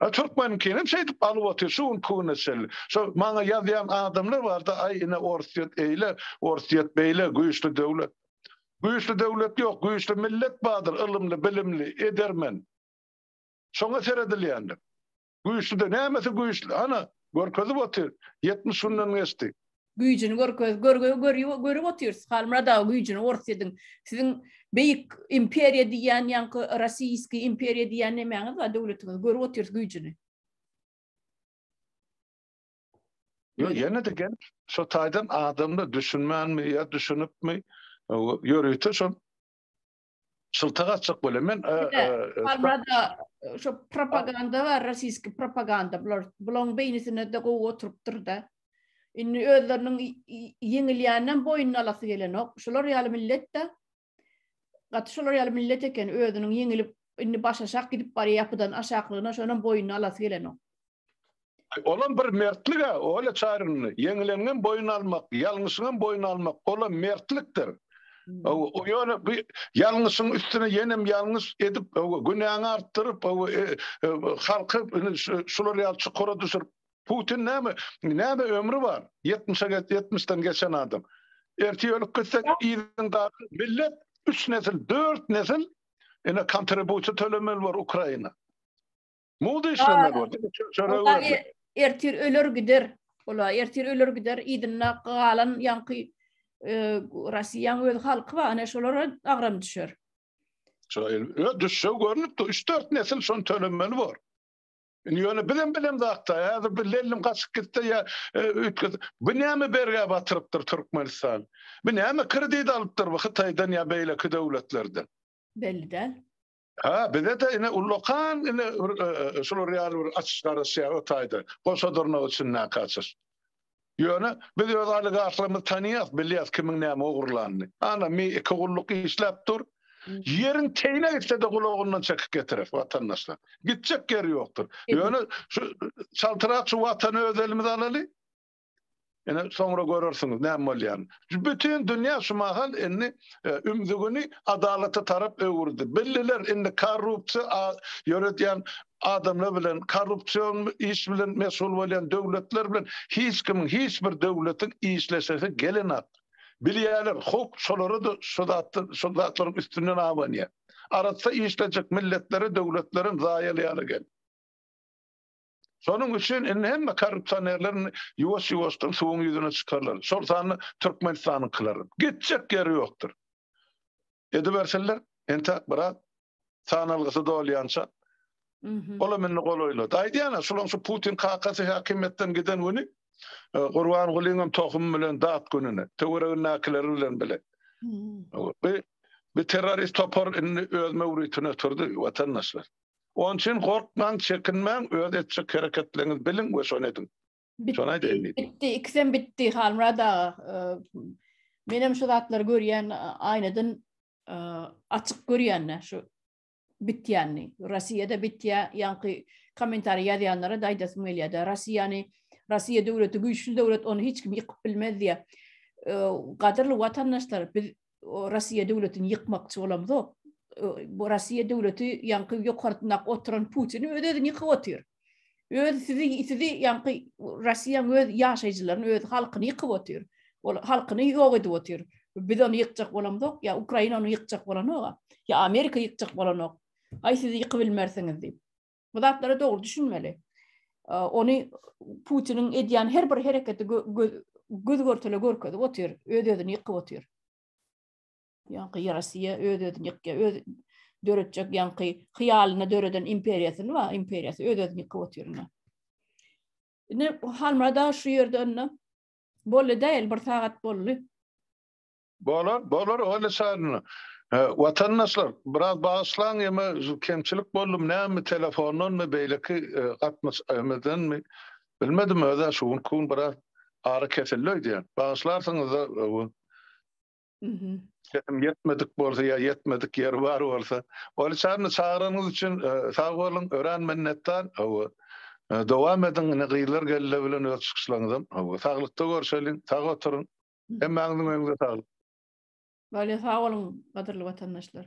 A Türkmenikinem şeýdip alyp otyr şu günki güne çenli. Şo maňa ýazýan adamlar barda aý ine Orsýet eýle, Orsýet beýle güýçli döwlet. Güýçli döwlet ýok, güýçli millet bardyr ylymly, bilimli, edermen. Şoňa seredilýändir. Güýçlide nämesi güýçli? Hana, görkezip otyr. Ýetmiş günden geçdi. Güýjüni görkez. Görgüni görýi görüp otyrys. Halmyrat aga güýjüni gorseziň. Siziň beýik imperiýa diýýän ýaňky rosiýskiý imperiýa diýýän nemäňiz bar döwletiňiz. Görüp otyrys güýjüni. Ýok ýene-de gelip şo taýdan adamlar düşünmänmi ýa düşünipmi ýörite şol Şylta gaçjak bolýar. Men Albrada şu propaganda bar, rossiýski propaganda. Bular bulaň beýnisine de gowy oturypdyr-da. Indi özleriniň ýeňilýänden boýnuny alasy gelenok. Şular ýaly millet-de gaty şular ýaly millet eken, özüniň ýeňilip, indi başaşak gidip barýar ýapydan aşaklygyna, şonam boýnuny alasy gelenok. Olam bir mertlik-ä, Olýa Çaryny, ýeňileniňem boýun almak, ýalňyşyňam boýun almak, olam mertlikdir. Ýöne bu ýalňyşyň üstüne ýenem ýalňyş edip, günäňi artdyryp, halky şular ýaly çukura düşürip, Putin näme, näme ömri bar? Ýetmişe, ýetmişden geçen adam. Ertir ölüp gitse, yzyň galan millet üç nesil, dört nesil ine kontribusiýa tölemeli bor Ukraina. Mowda işlenmeli bor. Çörek öwrenme. Ertir öler gider. Ola ertir öler gider. Idinna galan ýaňky Russiýaň öz halky bar. Ana şolara agram düşer. Şoýa düşse görnüpdi. 3-4 nesil şon tölenmeli bor. Indi ýöne bizem bilen zatda. Häzir bir lellim gaçyp gitse ýa öýtgez. Bu näme bergä batyrypdyr Türkmenistan? Bu näme kredit alypdyr bu Hytaýdan ýa beýleki döwletlerden? Belli däl. Hä, bize-de ine ullakan ine bir şular ýaly bir açyş garaşýar o taýda. Goşadyrnak içindäki açyş. Ýöne biz öz oligarhlarymyzy tanýas, bilýäs kimiň näme ogurlanyny. Ana mi iki gulluk işläp dur. Ýeriň teýine gitse-de gulagyndan çekip getirer watandaşlar. Gitjek ýeri ýokdur. Ýöne şu çaltrak şu watany öz elimize alaly. Ine, soňra görersiňiz näme bolýan. Bütin dünýä şu mahal indi e, ümzügini adalata tarap öwürdi. Billiler indi korrupsiýa ýöredýän adamlar bilen korrupsion iş bilen meşgul bolýan döwletler bilen hiç kim hiç bir döwletiň işleşesi gelenat. Bilýärler, howp şolara da şu zatlar, şu zatlaryň üstünden abanýar. Arassa işlejek milletlere döwletleriň zaýalaýany gel. Şonuň üçin indi hemme korrupsionerler ýuwaş-ýuwaşdan suwuň ýüzüne çykarlar. Şol sanda Türkmenistanyňkylar. Gitjek ýeri ýokdur. Edibersinler, entäk biraz sanalgysy dolýança. Olam indi golaýlady. Aýdýan-a, şolaň şu Putin kakasy häkimiýetden giden güni Gurbangulynyň tohumy bilen dat gününe, töweregindäkileri bilen bile. Bi terrorist topar indi öz möwritine turdy, watandaşlar. Onuň üçin gorkmaň, çekinmäň, öz etjek hereketleriňizi biliň we şony ediň. Şony aýdaýyn diýdi. Bitdi, ikisem bitdi Halmyrat aga. Menem şu zatlary görýän aýnadan açyk görýän-de şu bitýänini. Russiýada bitýä, ýaňky kommentariý ýazýanlara da aýdasym gelýär-de. Russiýany, Russiýa döwleti güýçli döwlet, ony hiç kim ýykyp bilmez diýýä. Gadyrly watandaşlar, biz Russiýa döwletini ýykmakçy bolamzok. Bu Russiýa döwleti ýaňky ýokartnak oturan Putin öz özüni ýykyp otyr. Öz sizi sizi ýaňky Russiýa öz ýaşaýjylaryny, öz halkyny ýykyp otyr. Ol halkyny ýok edip otyr. Biz ony ýykjak bolamzok, ýa Ukraina ony ýykjak bolanok. Ýa Amerika ýykjak bolanok. Aý sizi ýykyp bilmersiňiz diýip. Bu zatlara dogry düşünmeli. Ony Putiniň edýän her bir hereketi göz görtele görkezip otyr, öz özüni ýykyp otyr. Ýaňky Ýerasiýa öz özüni ýykýar, öz döretjek ýaňky hyýalyny döreden imperiýasyny we imperiýasy öz özüni ýykyp otyr. Indi Halmada şu ýerde onda bolly däl, bir sagat bolly. Bolar, bolar Olli Şalyna. Watandaşlar, biraz bagyşlaň ýeme kemçilik boldy näme telefondanmy beýleki gatnaş emedenmi bilmedim özä şu günki gün biraz ara kesildi öýdýän. Bagyşlarsyňyzda öwün. Mhm. Sesim ýetmedik bolsa ýa ýetmedik ýeri bar bolsa. Olli Şalyny çagyranyňyz üçin sag boluň, örän minnetdar. Hawa. Dowam ediň, ine gyzlar geldi bilen öz çykyşlaryňyzam. Hawa, saglykda görşeliň, sag oturyň. Hemmäňiziň öýüňize saglyk. Wale sag boluň gadyrly watandaşlar.